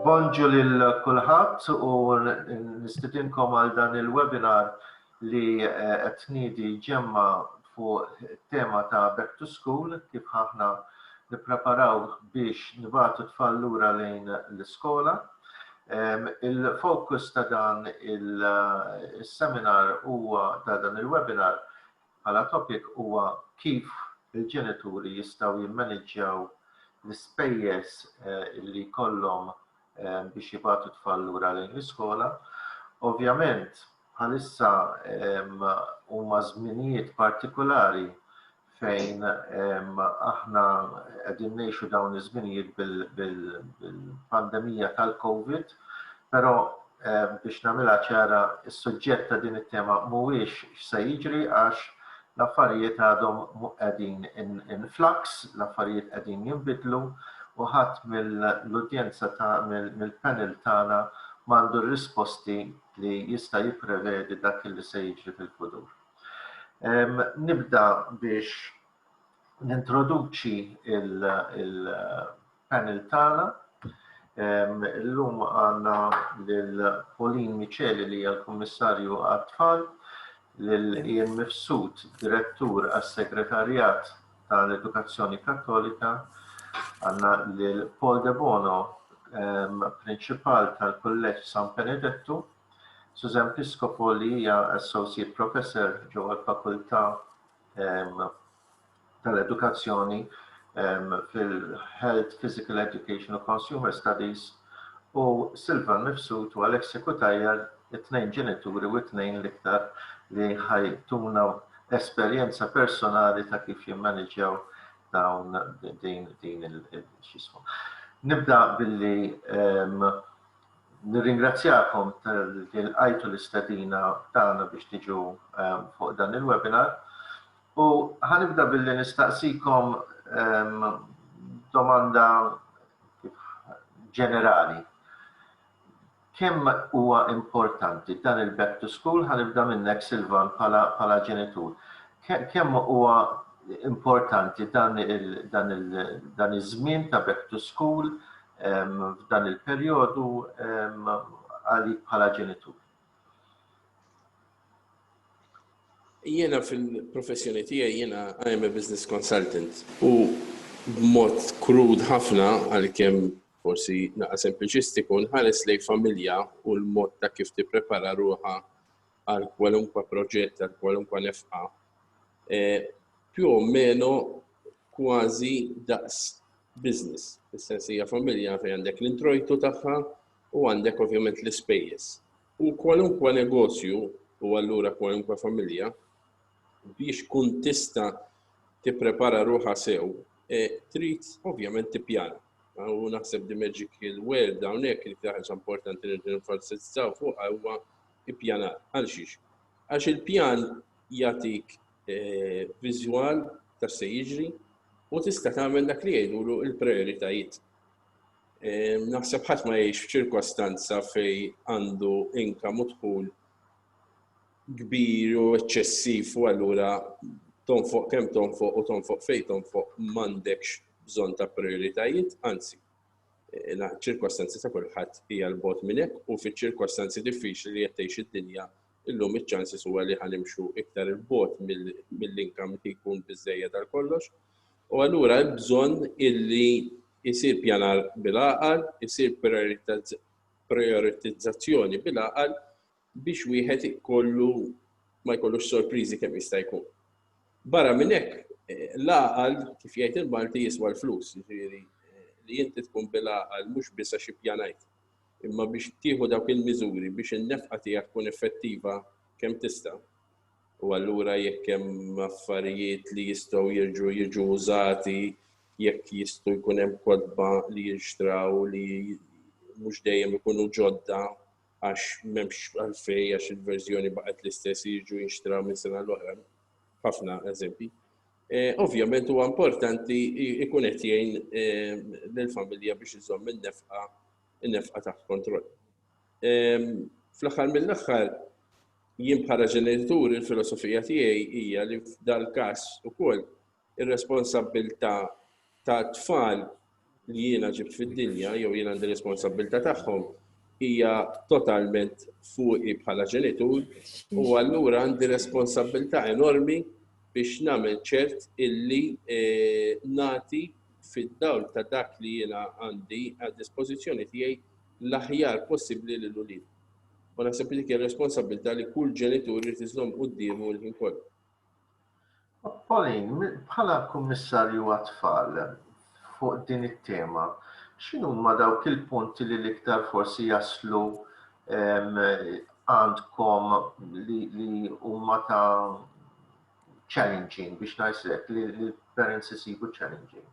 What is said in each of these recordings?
Bonġu lil kulħadd u nistidinkom għal dan il-webinar li qed tniedi ġemma fuq it-tema ta' Back to School kif aħna nippreparaw biex nibatu tfal lura lejn l-iskola. Il-fokus ta' dan il-seminar huwa ta' dan il-webinar Bħala topic huwa kif il-ġenituri jistgħu jimmaniġġjaw l-ispejjeż li jkollhom biex jibgħatu t-tfal lura lejn l-iskola. Ovvjament bħalissa huma żminijiet partikulari fejn aħna qegħdin ngħixu dawn iż-żminijiet bil-pandemija tal-Covid, però biex nagħmilha ċara s-suġġett ta' din it-tema mhuwiex x'se jiġri għax l-affarijiet għadhom qegħdin in flux, l-affarijiet qegħdin jinbidlu u ħadd mill-udjenza ta' mill-panel tagħna m'għandu r-risposti li jista' jipprevedi dak li se jiġri fil-futur. Nibda biex nintroduċi il-panel tagħna. Illum għandna lil Pauline Micheli li hija l-Kummissarju għat-Tfal, lil Ian Mifsud, Direttur għas-Segretarjat tal-Edukazzjoni Kattolika, għandna lil Paul De Bono, Prinċipal tal-Kulleġġ San Benedettu, Susan Piscopo li hija Associate Professor ġewwa l-Fakultà tal-edukazzjoni fil-Health, Physical Education u Consumer Studies, u Silvan Mifsud u Alexia Cutajar, it-tnejn ġenituri u t-tnejn l-iktar li ħajtuna esperjenza personali ta' kif jimmaniġġjaw dawn din din il-xismu. Nibda billi nirringrazzjakom tal-li l-għajtu l-istadina tagħna biex tiġu fuq dan il-webinar. U ħa nibda billi nistaqsikom domanda ġenerali. Kemm huwa importanti dan il-back to school, ħa nibda minnek Silvan bħala ġenitur. Kemm huwa importanti dan iż-żmien ta' back to school f'dan il-perjodu għalik bħala ġenitur? Jiena fil-professjoni tiegħi jiena I am a business consultant u b'mod krud ħafna għalkemm forsi naqa' sempliċistiku nħares lejn familja u l-mod ta' kif tipprepara ruħha għal kwalunkwe proġett, għal kwalunkwe nefqa. E, più o meno kważi daqs business, fis-sens hija familja fejn għandek l-introjtu tagħha u għandek ovvjament l-ispejjeż. U kwalunkwe negozju, u allura kwalunkwe familja, biex tkun tista' tipprepara ruħha sew, trid ovvjament tippjana. U naħseb the magical word hawnhekk li ħaġa importanti li ninfasizzaw fuqha huwa ippjanar. Għal xiex? Għax il-pjan jagħtik viżwal ta' se jiġri u tista' tagħmel dak li jgħidulu l-prioritajiet. Naħseb ħadd ma jgħix f'ċirkostanza fej għandu inkam u dħul kbir u eċċessiv u allura tonfoq kemm tonfoq u tonfoq fej tonfoq m'għandekx bżonn ta' prioritajiet, anzi ċirkostanzi ta' kulħadd hija l-bot minn hekk u fiċ-ċirkostanzi diffiċli li qed tgħix id-dinja illum iċ-ċansis huwa li ħanimxu iktar il-bot mill-inkam li jkun biżejjed għal kollox U allura hemm bżonn illi jsir ppjanar bil-għaqal, isir prijoritizzazzjoni bil-għaqal biex wieħed ikollu ma jkollux sorpriżi kemm jista' jkun. Barra minn hekk, l-għaqal kif jgħid il-Malti jiswa l-flus, jiġifieri li inti tkun bil-għaqal mhux biss għax ippjanajt, imma biex tieħu dawk il-miżuri biex in-nefqa tiegħek tkun effettiva kemm tista'. u allura jekk hemm affarijiet li jistgħu jerġgħu jiġu użati, jekk jistgħu jkun hemm kotba li jinxtraw li mhux dejjem ikunu ġodda għax m'hemmx għalfej għax il-verżjoni baqgħet l-istess jiġu jinxtraw minn sena l-oħra. Ħafna eżempji. E, ovvjament huwa importanti ikun qed jgħin e, lill-familja biex iżomm in-nefqa in-nefqa taħt kontroll. Fl-aħħar mill-aħħar, jien bħala ġenitur il-filosofija tiegħi hija li f'dal-każ ukoll ir-responsabbiltà ta' tfal li jiena ġibt fid-dinja jew jien għandi responsabbiltà tagħhom hija totalment fuqi bħala ġenitur u allura għandi responsabbiltà enormi biex nagħmel ċert illi e, nati fid-dawl ta' dak li jiena għandi għad dispożizzjoni tiegħi l-aħjar possibbli lil uliedhom. U naħseb li dik hija responsabbiltà li kull ġenitur irid iżomm quddiemu l-ħin kollu. Pauline, bħala Kummissarju għat-Tfal, fuq din it-tema, x'inhuma dawk il-punti li l-iktar forsi jaslu għandkom li huma ta' challenging biex ngħid hekk, li l-parents isibu challenging?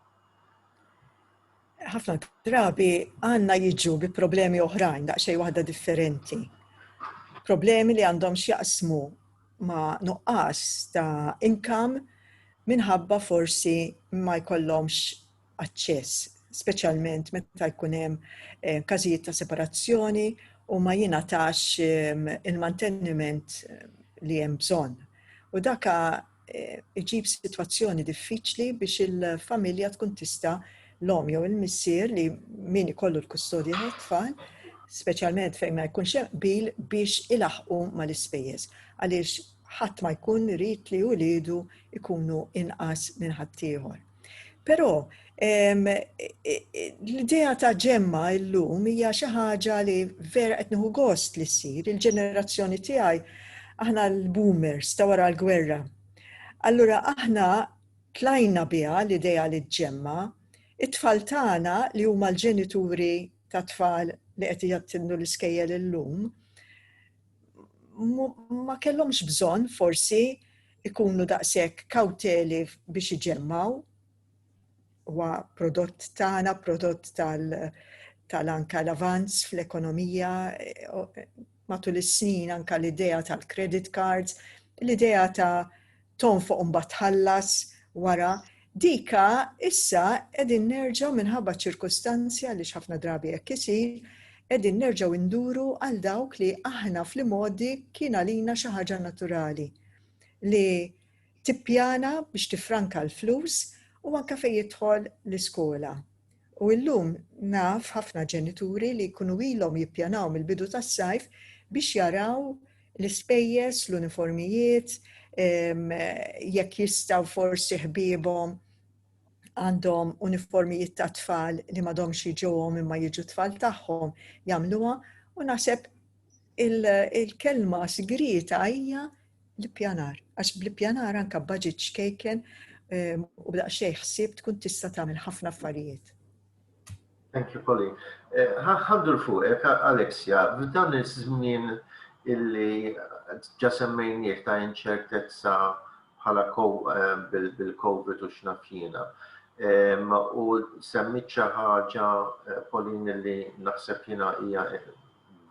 ħafna drabi għanna jiġu bi problemi oħrajn daqxej waħda differenti. Problemi li għandhom xjaqsmu ma nuqqas ta' inkam minħabba forsi ma jkollhomx aċċess, speċjalment meta jkun hemm eh, każijiet ta' separazzjoni u ma jingħatax eh, il-manteniment eh, li hemm bżonn. U daka iġib sitwazzjoni diffiċli biex il-familja tkun tista' l-om jew il-missier li min ikollu l-kustodja tat-tfal, speċjalment fejn ma jkunx hemm bil biex ilaħqu mal-ispejjeż għaliex ħadd ma jkun irid li uliedu jkunu inqas minn ħaddieħor. Però l-idea ta' ġemma illum hija xi ħaġa li vera qed nieħu gost li ssir il-ġenerazzjoni tiegħi aħna l-boomers ta' wara l-gwerra. Allura aħna tlajna biha l-idea li ġemma it-tfal tagħna li huma l-ġenituri ta' tfal li qed jattindu l-iskejjel illum ma kellhomx bżonn forsi ikunu daqshekk kawteli biex iġemmgħu huwa prodott tagħna, prodott tal tal-anka l-avanz fl-ekonomija eh, matul is-snin anka l-idea tal-credit cards, l-idea ta' tonfoq mbagħad ħallas wara dika issa qegħdin nerġgħu minħabba ċirkustanzja li ħafna drabi jekk isir, qegħdin nerġgħu induru għal dawk li aħna fl-modi kien għalina xi ħaġa naturali. li tippjana biex tiffranka l-flus u anke fejn jidħol l-iskola. U illum naf ħafna ġenituri li jkunu ilhom jippjanaw mill-bidu tas-sajf biex jaraw l-ispejjeż, l-uniformijiet, jekk jistgħu forsi ħbiebhom għandhom uniformijiet ta' tfal li m'għadhomx jiġuhom imma jiġu tfal tagħhom jagħmluha u naħseb il-kelma sigrieta hija l-ippjanar, għax bl-ippjanar anka budget xkejken ehm, u b'daqxej ħsieb tkun tista' tagħmel ħafna affarijiet. Thank you, Polly. Eh, ħaddu l-fuqek, Alexia, f'dan iż-żmien illi ġa semmejniek ta' inċertezza bħala ehm, bil-COVID u xnafjina. Ehm, u semmit xi ħaġa eh, Polin illi naħseb jiena hija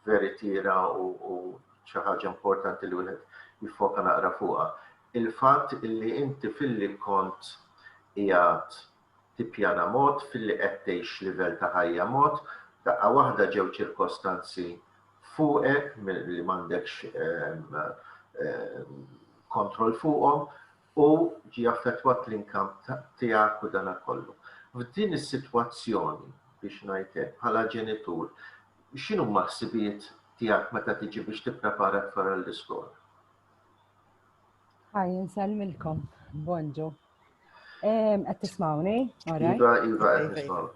veritiera u xi ħaġa importanti li wieħed jiffoka naqra fuqha. Il-fatt illi inti filli kont qiegħed tippjana mod, filli qed tgħix livell ta' ħajja mod, daqqa waħda ġew ċirkostanzi fuqek li m'għandekx ehm, ehm, kontroll fuqhom, u ġie affettwat l-income tiegħek u dana kollu. F'din is-sitwazzjoni biex ngħid hekk bħala ġenitur x'inhuma ħsibijiet tiegħek meta tiġi biex tipprepara t-tfal għall-iskola? Ħaj nsellmilkom, bonġu. Qed tismawni? Iva, iva qed nismaw.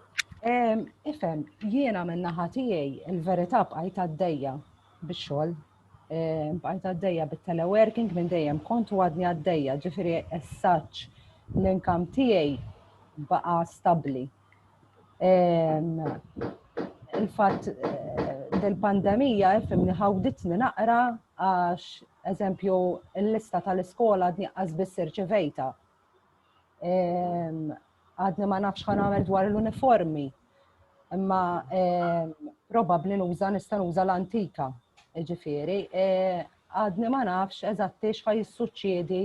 Ifhem, jiena minn naħa tiegħi l-verità bqajt għaddejja bix-xogħol bqajt għaddejja bit-teleworking minn dejjem kont u għadni għaddejja, ġifiri essaċ l-inkam tiegħi baqa stabli. Il-fatt eh, del-pandemija fimni ħawditni naqra għax eżempju l-lista tal-iskola għadni għazbis irċivejta. Għadni ma nafx ħa nagħmel dwar l-uniformi. Imma probabbli nuża nista' nuża l-antika. Ġifieri, għadni ma nafx eżatti x'ħa jissuċċiedi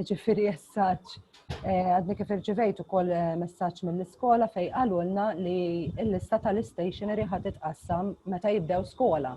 ġifieri jessaċ. Għadni kif irċivejt ukoll messaġġ mill-iskola fej qalulna li l-lista tal-istationery ħa titqassam meta jibdew skola.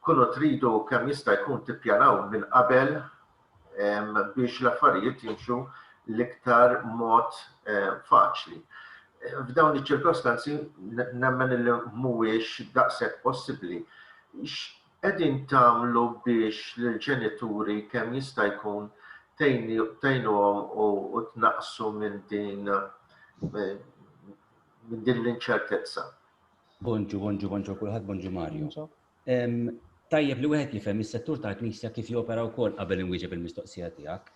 Kunu tridu kemm jista' jkun tippjanaw minn qabel biex l-affarijiet jimxu l-iktar mod faċli. F'dawn iċ-ċirkostanzi nemmen li mhuwiex daqshekk possibbli. X'qegħdin tagħmlu biex lill-ġenituri kemm jista' jkun tgħinuhom u tnaqqsu minn din l-inċertezza? Bonġu, bonġu, bonġu kulħadd, bonġu Mario. Tajjeb li wieħed jifhem is-settur tal-Knisja kif jopera wkoll qabel inwieġeb il-mistoqsija tiegħek.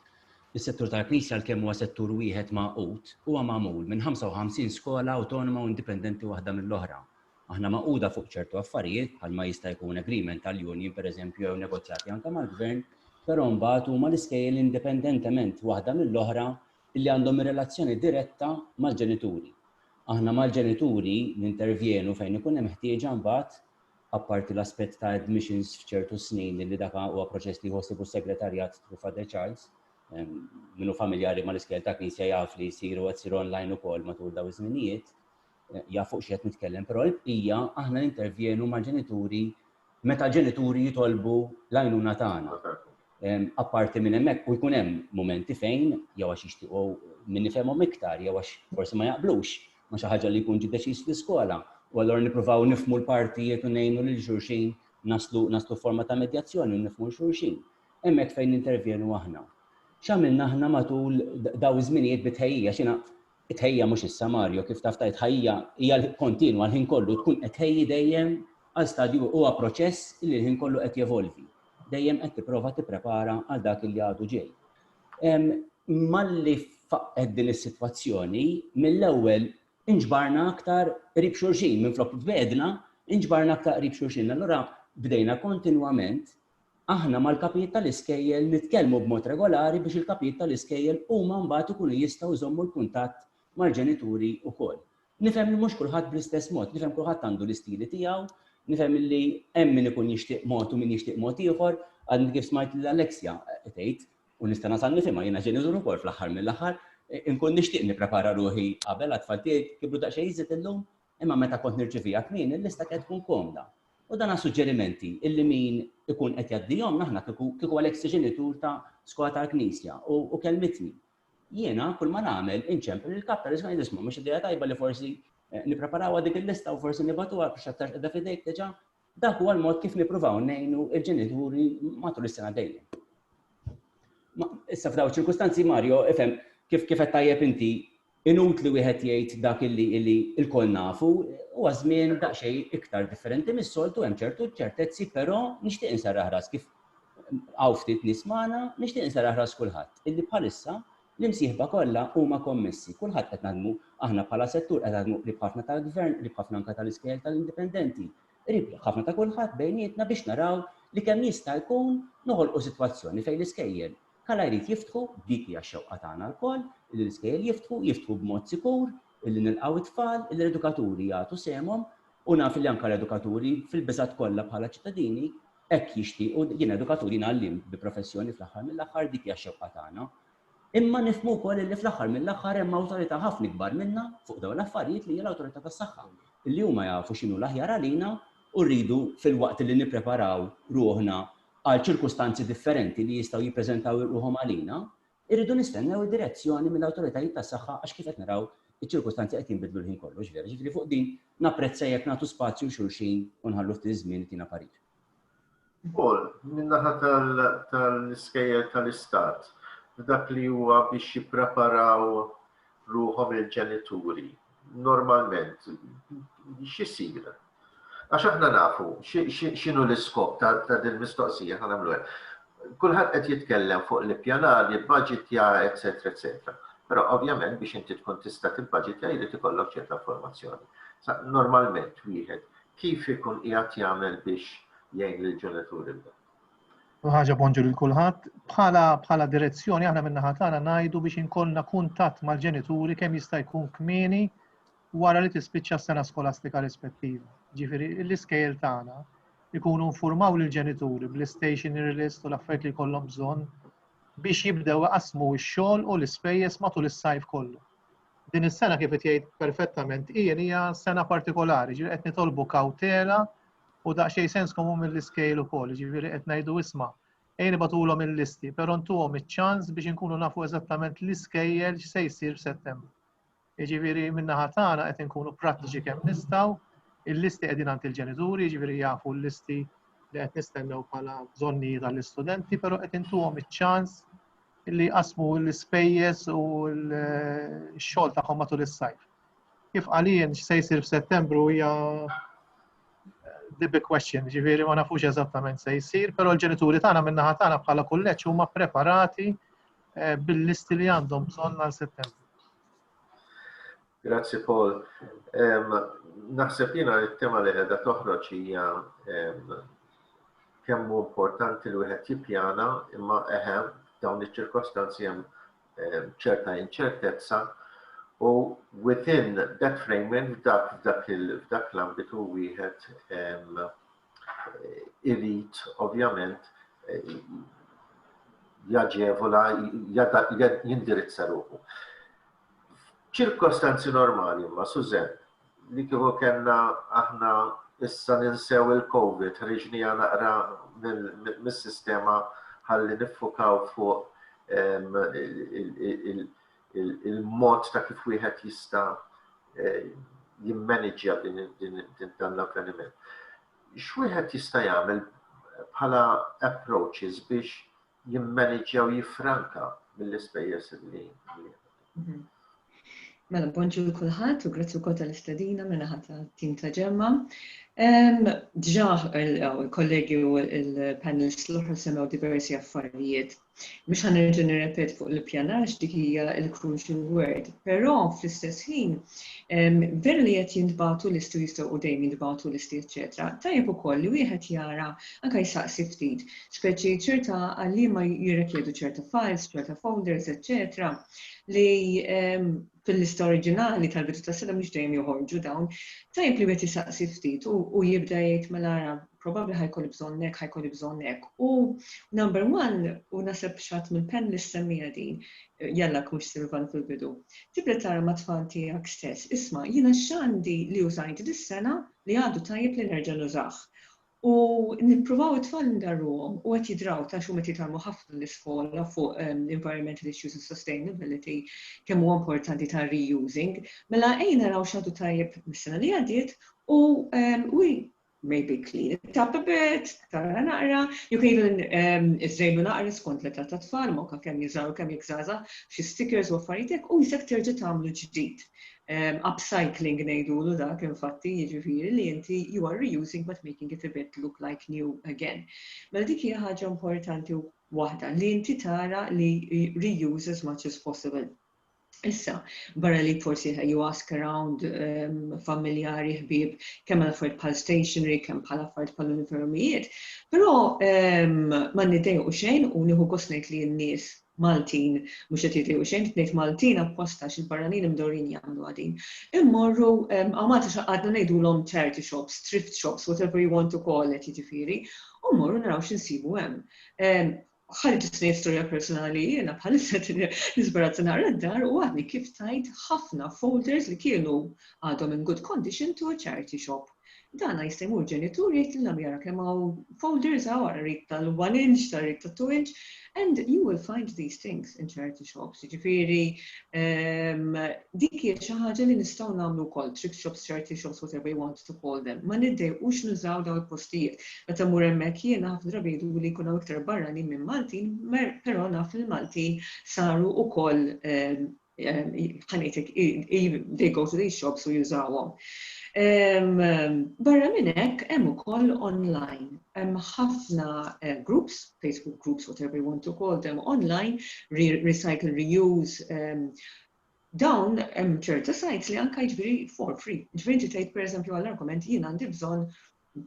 Is-settur tal-Knisja l-kemm huwa settur wieħed magħqud huwa magħmul minn 55 skola awtonoma u indipendenti waħda mill-oħra. Aħna magħquda fuq ċertu affarijiet bħal ma jista' jkun agreement tal-union pereżempju jew negozjati anke mal-gvern, però mbagħad huma l-iskejjel indipendentement waħda mill-oħra li għandhom relazzjoni diretta mal-ġenituri. Aħna mal-ġenituri nintervjenu fejn ikun hemm ħtieġa mbagħad, apparti l-aspett ta' admissions f'ċertu snin illi dak huwa proċess li jieħu ħsiebu s-Segretarjat through Father Charles. Min hu familjari mal-iskejjel ta' Knisja jaf li jsiru qed isir online ukoll matul dawn iż-żminijiet, jaf fuq xi qed nitkellem, però l-bqija aħna nintervjenu mal-ġenituri meta ġenituri jitolbu l-għajnuna tagħna. Apparti minn hemmhekk u jkun hemm mumenti fejn jew għax jixtiequ min ifhemhom iktar jew għax forsi ma jaqblux ma xi ħaġa li jkun ġi deċiż fl-iskola u allura nippruvaw nifmu l-partijiet u ngħinu lil xulxin naslu naslu forma ta' medjazzjoni u nifmu xulxin. Hemmhekk fejn intervjenu aħna. X'għamilna aħna matul daw iż-żminijiet bitħejjija xina It-tħejjija mhux issa, Mario, kif taf ta' tħajjija hija kontinwa l-ħin kollu, tkun qed tħejji dejjem għal stadju huwa proċess li l-ħin kollu qed jevolvi. Dejjem qed tipprova tipprepara għal dak li għadu ġej. Malli faqqet din is-sitwazzjoni, mill-ewwel inġbarna aktar qrib xulxin, minflok tbegħedna, inġbarna aktar qrib xulxin. Allura bdejna kontinwament Aħna mal-kapijiet tal-iskejjel nitkellmu b'mod regolari biex il-kapijiet tal-iskejjel huma mbagħad ikunu jistgħu jżommu l-kuntatt mal-ġenituri wkoll. Nifhem li mhux kulħadd bl-istess mod, nifhem kulħadd għandu l-istili tiegħu, nifhem illi hemm min ikun jixtieq mod u min jixtieq mod ieħor, għadni kif smajt lil Alexia tgħid, u nista' nasal nifhimha, jiena ġenitur ukoll fl-aħħar mill-aħħar, inkun nixtieq nipprepara ruħi qabel għat-tfal tiegħi jkibru daqsxejn iżjed illum, Imma meta kont nirċiviha kmieni l-lista kienet tkun komda. U dan għas-suġġerimenti illi min ikun qed jgħaddihomna aħna kieku kieku l-ex ġenitur ta' Skola tal-Knisja u u kellmitni. Jiena kull ma nagħmel inċempel lill-kap tal-iskola ngħid isma' mhux idea tajba li forsi nippreparawha dik il-lista u forsi nibgħatuha biex aktarx qiegħda f'idejk diġà. Dak huwa l-mod kif nippruvaw ngħinu l-ġenituri matul is-sena dejjem. Issa f'dawn iċ-ċirkustanzi Mario, ifhem kif kif qed tajjeb inti Inutli wieħed jgħid dak illi illi lkoll nafu, huwa żmien daqsxejn iktar differenti mis-soltu, hemm ċertu ċertezzi, però nixtieq inserraħ ras kif hawn ftit nies magħna, nixtieq inserraħ ras kulħadd illi bħalissa l-imsieħba kollha huma kommessi, kulħadd qed naħdmu aħna bħala settur qed naħdmu qrib ħafna tal-Gvern, qrib ħafna anke tal-iskejjel tal-indipendenti, qrib ħafna ta' kulħadd bejnietna biex naraw li kemm jista' jkun noħolqu sitwazzjoni fejn l-iskejjel Kala jrid jiftħu, dik hija x-xewqa tagħna lkoll, illi l-iskejjel jiftħu, jiftħu b'mod sikur, illi nilqgħu it-tfal, illi l-edukaturi jagħtu sehemhom, u naf illi anke l-edukaturi, fil-biżgħat kollha bħala ċittadini, hekk jixtiequ, jiena edukatur, jiena għalliem bi professjoni fl-aħħar mill-aħħar, dik hija x-xewqa tagħna. Imma nifhmu wkoll illi fl-aħħar mill-aħħar hemm awtorità ħafna ikbar minna fuq dawn l-affarijiet li hija l-Awtorità tas-Saħħa, illi huma jafu x'inhu l-aħjar għalina u rridu filwaqt illi nippreparaw ruħna għal ċirkustanzi differenti li jistgħu jippreżentaw ruħhom għalina, irridu nistennew id-direzzjoni mill-awtoritajiet tas-saħħa għax kif qed naraw iċ-ċirkustanzi qed jinbidlu l-ħin kollu, mhux vera? Jiġifieri fuq din napprezza jekk nagħtu spazju 'l xulxin u nħallu ftit iż-żmien itina parir. Ukoll, min-naħa tal-iskejjel tal-Istat, f'dak li huwa biex jippreparaw ruħhom il-ġenituri, normalment x'isir? Għax aħna nafu x'inhu l-iskop ta' din il-mistoqsija aħna nagħmlu hekk. Kulħadd qed jitkellem fuq l-ippjanar, jibbaġitja, etc. etc. Però ovvjament biex inti tkun tista' tibbaġitja jrid ikollok ċerta informazzjoni. Sa normalment wieħed kif ikun qiegħed jagħmel biex jgħin lill-ġenituri b'dan? ħaġa bonġu lil kulħadd, bħala bħala direzzjoni aħna minn naħa tagħna ngħidu biex inkollna kuntatt mal-ġenituri kemm jista' jkun kmieni wara li tispiċċa s-sena skolastika rispettiva. Ġifieri l-iskejjel tagħna ikunu infurmaw lill-ġenituri bl-istationery list u l-affarijiet li jkollhom bżonn biex jibdew iqassmu x-xogħol u l-ispejjeż matul is-sajf kollu. Din is-sena kif qed jgħid perfettament hija hija sena partikolari, ġifieri qed nitolbu kawtela u daqsxejn sens komun mill-iskejl ukoll, ġifieri qed ngħidu isma' ejn ibatulhom il-listi, però ntuhom iċ-ċans biex inkunu nafu eżattament l-iskejjel x'se jsir f'Settembru. Jiġifieri min-naħa tagħna qed inkunu prattiċi kemm nistgħu, il-listi qegħdin għand il-ġenituri, jiġifieri jafu l-listi li qed nistennew bħala bżonnijiet għall-istudenti, però qed intuhom iċ-ċans li jqasmu l-ispejjeż u l-xogħol tagħhom matul is-sajf. Kif għalien x'se jsir f'Settembru hija eh, the big question, ġifieri ma nafux eżattament se jsir, però l-ġenituri tagħna min-naħa tagħna bħala kulleġġ huma preparati eh, bil-listi li għandhom bżonn għal Settembru. Grazzi Paul. Naħseb jiena it-tema li qiegħda toħroġ hija kemm hu importanti li wieħed jippjana imma eħem dawn iċ-ċirkostanzi hemm ċerta inċertezza u within that framing f'dak f'dak l-ambitu wieħed irid ovvjament jaġevola, jindirizza ruħu. ċirkostanzi normali ma, Suzen, li kieku kena aħna issa ninsew il-Covid, ħriġni naqra mis-sistema ħalli nifukaw fuq il-mod ta' kif wieħed jista' jimmaniġġja dan l-avveniment. X'wieħed jista' jagħmel bħala approaches biex jimmaniġġja u jiffranka mill-ispejjeż li mhm. Mela, bonġu l-kulħat u grazzi wkoll tal-istadina mela ħata tim ta' ġemma. Dġaħ il-kollegi u il-panelist l-oħra semmew diversi affarijiet Mhux ħa nerġa' nirrepeti fuq l-ippjanar għax dik hija l-crucial word, però fl-istess ħin veru li qed jintbagħtu listi u jistgħu u dejjem jintbagħtu listi eċċetera, tajjeb ukoll li wieħed jara anke jsaqsi ftit, speċi ċerta għalliema jirrikjedu ċerta files, ċerta folders, eċċetera, li fil-lista oriġinali tal-bidu tas-sena mhux dejjem joħorġu dawn, tajjeb li wieħed isaqsi ftit u jibda jgħid mela ara probabbli ħajkolli bżonn hekk, ħajkolli bżonn hekk. U number one, u naseb xatt minn pen li semmija din, jalla kux Silvan fil-bidu. Tibda tara ma' tfal tiegħek stess, isma' jiena x'għandi li użajt dis-sena li għadu tajjeb li nerġa' nużah. U nippruvaw it-tfal ndarruhom u qed jidraw ta' xhum qed jitgħallmu ħafna l-iskola fuq environmental issues u sustainability kemm huwa importanti ta' reusing. Mela ejja naraw x'għadu tajjeb mis-sena li għaddiet u we maybe clean it up a bit, tara naqra, jew even iżżejnu naqra skont l-età tat-tfal, ma kemm jiżgħar u kemm jekk żgħażagħ, xi stickers u affarijiet hekk u jisek terġa' tagħmlu ġdid. upcycling ngħidulu dak infatti jiġifieri li inti you are reusing but making it a bit look like new again. Mela dik hija ħaġa importanti waħda li inti tara li reuse as much as possible. Issa, barra li forsi you ask around um, familjari, ħbib, kemm għal affarijiet bħal stationery, kemm bħal affarijiet bħal uniformijiet, però um, ma nidejqu xejn u nieħu kosnejt li n-nies Maltin mhux qed jgħidu xejn, trid ngħid Maltin apposta għax il-barranin imdorrin jagħmluha din. Immorru hawn Malta xi qgħadna ngħidulhom charity shops, thrift shops, whatever you want to call it jiġifieri, u mmorru naraw x'insibu hemm. Ħalli ġust ngħid storja personali jiena bħalissa nisbarazza naqra d-dar u għadni kif tajt ħafna folders li kienu għadhom in good condition to a charity shop. Dan jista' jmur ġenitur jgħid lil abu jara kemm hawn folders hawn ara rit tal-one inch, ara rit tat-two inch and you will find these things in charity shops. Jiġifieri dik hija xi ħaġa li nistgħu nagħmlu wkoll, thrift shops, charity shops, whatever you want to call them. Ma niddejqux nużaw dawn il-postijiet. Meta mmur hemmhekk jiena ħafna drabi jgħiduli li jkun hawn iktar barranin minn Maltin, però naf li l-Maltin saru wkoll ħanejtek, they go to these shops u jużawhom. Barra minn hekk hemm ukoll online. Hemm ħafna eh, groups, Facebook groups, whatever you want to call them, online, recycle, reuse, dawn hemm ċerta sajts li anka jiġri for free. Ġifieri tgħid pereżempju għall-argument jien għandi bżonn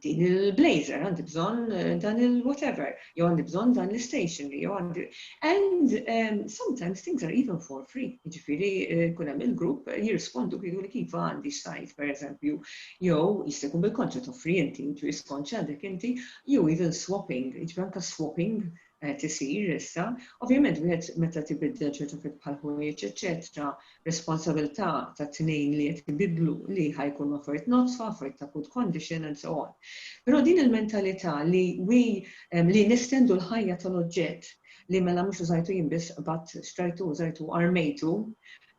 din il-blazer, għandi bżonn dan il-whatever, jew għandi bżonn dan l-stationery, jew għandi. And um, sometimes things are even for free. Ġifiri, eh, kun hemm il-grupp eh, jirrispondu kienu li kif għandi x'sajt, per eżempju, jew jista' jkun bil-konċett offri inti, intu jiskonċ għandek inti, jew even swapping, ġifiri anka swapping qed isir issa. Ovvjament wieħed meta tibiddel ċertu affarijiet bħal ħwejjeġ eċċetera, responsabilità ta' tnejn li qed ibiddlu li ħa jkunu affarijiet nodfa, affarijiet ta' good condition and so on. Però din il-mentalità li we li nestendu l-ħajja tal-oġġett li mela mhux użajtu jien biss qbadt xtrajtu, użajtu, armejtu,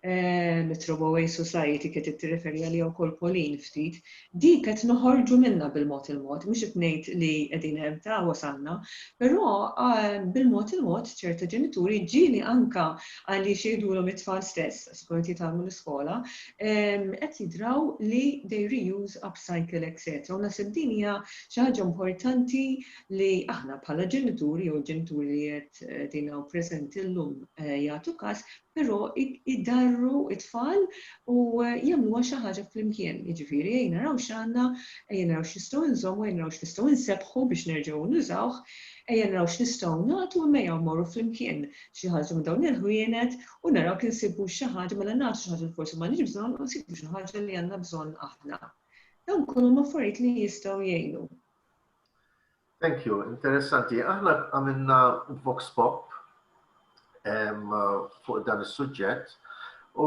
mit-Throwaway Society qed ittirreferi għaliha wkoll Pauline ftit, din qed noħorġu minnha bil-mod il-mod, mhux qed ngħid li qegħdin hemm ta' wasalna, però bil-mod il-mod ċerta ġenituri ġieli anke għaliex jgħidulhom it-tfal stess, sikurament jitgħallmu l-iskola, qed jidraw li they reuse, upcycle etc. U naħseb din hija xi ħaġa importanti li aħna bħala ġenituri jew il-ġenituri li qed din hawn preżenti llum jagħtu każ, Però idarru t-tfal u jagħmluha xi ħaġa flimkien. Jiġifieri ejja naraw x'għandna, ejja naraw x'nistgħu nżommu, ejja naraw x'nistgħu nsebbħu biex nerġgħu nużawh, ejja naraw x'nistgħu nagħtu imma ejja mmorru flimkien xi ħaġa minn dawn il-ħwienet u naraw jekk insibux xi ħaġa, mela nagħtu xi ħaġa li forsi m'għandniex bżonn u nsibu xi ħaġa li għandna bżonn aħna. Dawn kollha huma affarijiet li jistgħu jgħinu. Thank you, interessanti. Aħna għamilna Vox Pop fuq dan is-suġġett u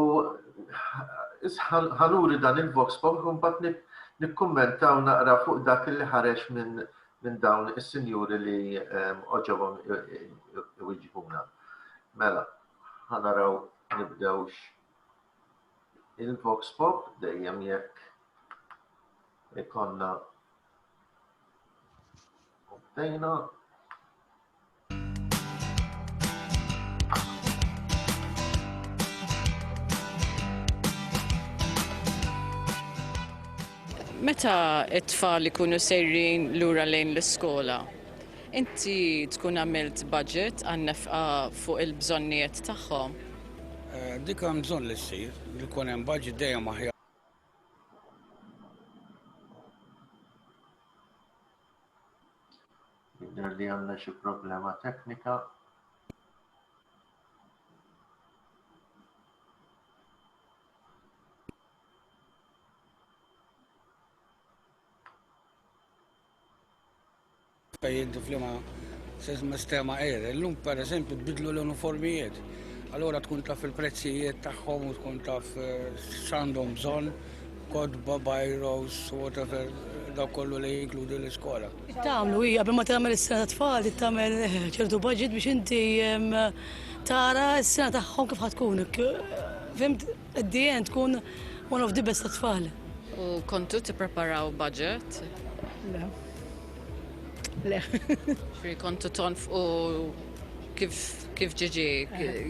ħanuri dan il-Vox Pop u mbagħad nikkummentaw naqra fuq dak li ħareġ minn minn dawn is-sinjuri li ehm, oġobhom iwiġbuna. Mela, ħanaraw nibdewx il-Vox Pop dejjem jekk ikonna Obtejna Meta it-tfal ikunu sejrin lura lejn l-iskola, inti tkun għamilt budget għan-nefqa fuq il-bżonnijiet tagħhom? Eh, dik hemm bżonn li ssir, li jkun hemm budget dejjem aħjar. Jidher li għandna xi problema teknika. Pajjiżi f'liema sistema qiegħda. Illum pereżempju tbidlu l-uniformijiet. Allura tkun taf il-prezzijiet tagħhom u tkun taf eh, x'għandhom bżonn kodba, bajros, whatever, da kollu li jinkludi l-iskola. Tamlu, hija, ma tagħmel is-sena ta' tfal, tagħmel eh, ċertu budget biex inti tara s-sena tagħhom kif ħatkun. Fimt? At the end tkun one of the best tat-tfal. U kontu tippreparaw budget? Le. Le. Ġifieri kontu tonf u kif kif ġiġi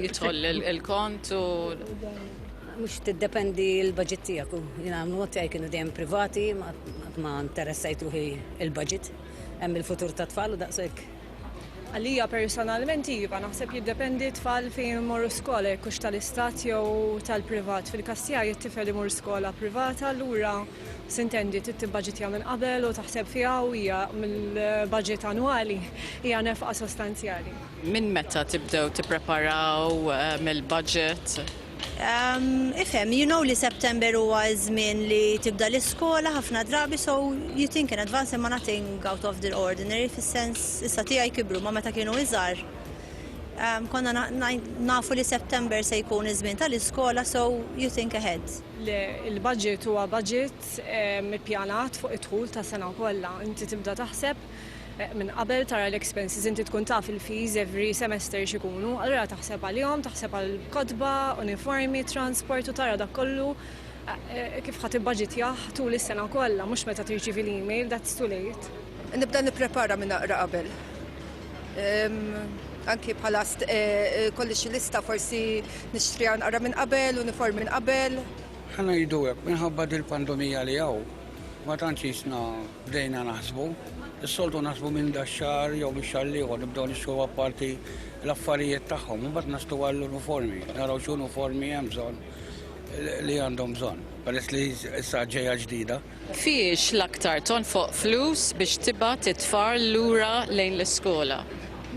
jidħol il-kont u mux t-dependi l-budget tijak u jina għamlu tijaj kienu dejjem privati ma interessajt ruħi il-budget hemm il-futur ta' tfal u daqsek Għalija personalment iva, naħseb jiddependi tfal fejn imorru skola jekk hux tal-istat jew tal-privat. Fil-każ tiegħi t-tifel imur skola privata allura sintendi trid tibbaġitja minn qabel u taħseb fiha u hija mill-baġit annwali hija nefqa sostanzjali. Minn meta tibdew tippreparaw mill-baġit? Ehm, ifhem, you know li September huwa żmien li tibda l-iskola ħafna drabi so you think in advance imma nothing out of the ordinary fis-sens issa tiegħi kibru ma meta kienu iżgħar. Ehm, konna nafu li September se jkun iż-żmien tal-iskola so you think ahead. Le, il-budget huwa budget ehm, ippjanat fuq id-dħul ta' sena kollha. Inti tibda taħseb Minn qabel tara l-expenses inti tkun taf il-fees every semester x'ikunu, allura taħseb għalihom, taħseb għall-kotba, uniformi, transport u tara dak kollu kif ħa tibbaġitjah tul is-sena kollha mhux meta tirċievi l-email, that's too late. Nibda nipprepara minn aqra qabel. Anki bħala kolli xi lista forsi nixtriha naqra minn qabel, uniform minn qabel. Ħa ngħidu hekk, minħabba dil-pandomija li hawn, ma tantx qisna. Bdejna naħsbu, is-soltu naħsbu minn da xar jew minn xar liħor, nibdew nixxu apparti l-affarijiet tagħhom, imbagħad nastu għall-uniformi, naraw x'uniformi hemm bżonn li għandhom bżonn, peress li issa ġejja ġdida. Fiex l-aktar tonfoq flus biex tibgħat it-tfal lura lejn l-iskola?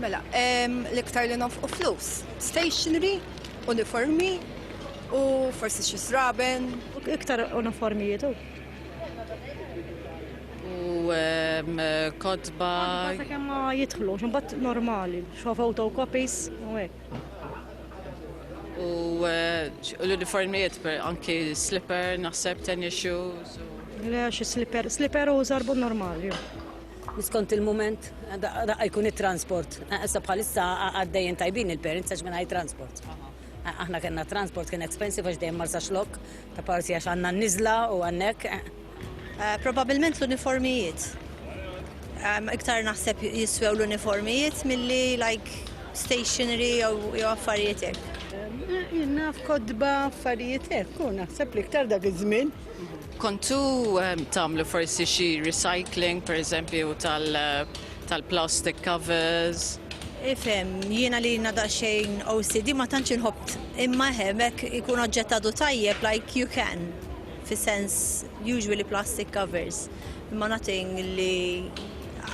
Mela, l-iktar li nonfqu flus, stationery, uniformi u forsi xi sraben. Iktar uniformi jidu. u ehm, kotba. Għadda kemm ma jidħlu, ximbat normali, xo photocopis u hekk. U eh, l-uniformijiet per anki slipper, naħseb tennis shoes. Le, xi slipper, slipper u zarbu normali. Niskont il-moment, da jkun il-transport. Issa bħalissa għaddejjen tajbin il-parents għax minna transport. Aħna kena transport kien expensive għax dejjem marsa xlok, Apparti għax għandna n-niżla u għandek. Probabilment l-uniformijiet. Iktar naħseb jiswew l-uniformijiet milli like stationery jew affarijiet hekk. Jina f'kodba affarijiet hekk u naħseb li iktar dak iż-żmien. Kontu ehm, tagħmlu forsi xi recycling pereżempju tal tal-plastic covers. Ifhem, jiena li jiena daqsxejn OCD ma tantx inħobb imma hemmhekk ikun oġġett għadu tajjeb like you can fis-sens usually plastic covers imma nothing li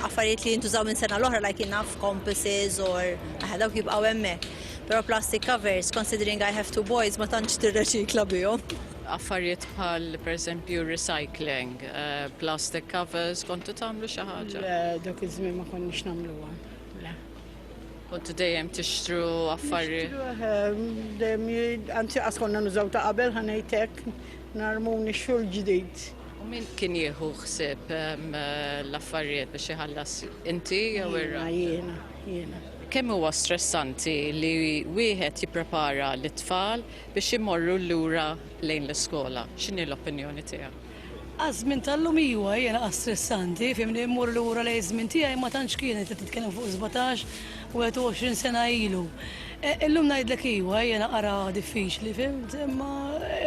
affarijiet li jintużaw minn sena l-oħra like enough compasses or aħna dawk jibqgħu hemmhekk. Però plastic covers considering I have two boys ma tantx tirreċikla bihom. Affarijiet bħal pereżempju recycling, plastic covers, kontu tagħmlu xi ħaġa? Le, dak iż-żmien ma konniex nagħmluhom. Le. Kontu dejjem tixtru affarijiet? Dejjem anzi qas konna nużaw ta' qabel ħanejtek narmu nixxu l-ġdid. U min kien jieħu ħsieb l-affarijiet biex iħallas inti jew irra? Jiena, jiena. Kemm huwa stressanti li wieħed jipprepara lit-tfal biex imorru lura lejn l-iskola. X'inhi l-opinjoni tiegħek? Għaż-żmien tal-lum iwa hija naqas stressanti, fimni mmur lura lejn iż-żmien tiegħi ma tantx kienet qed titkellem fuq 17 u 21 sena ilu. E, illum ngħidlek iwa hija naqra diffiċli, fimt, imma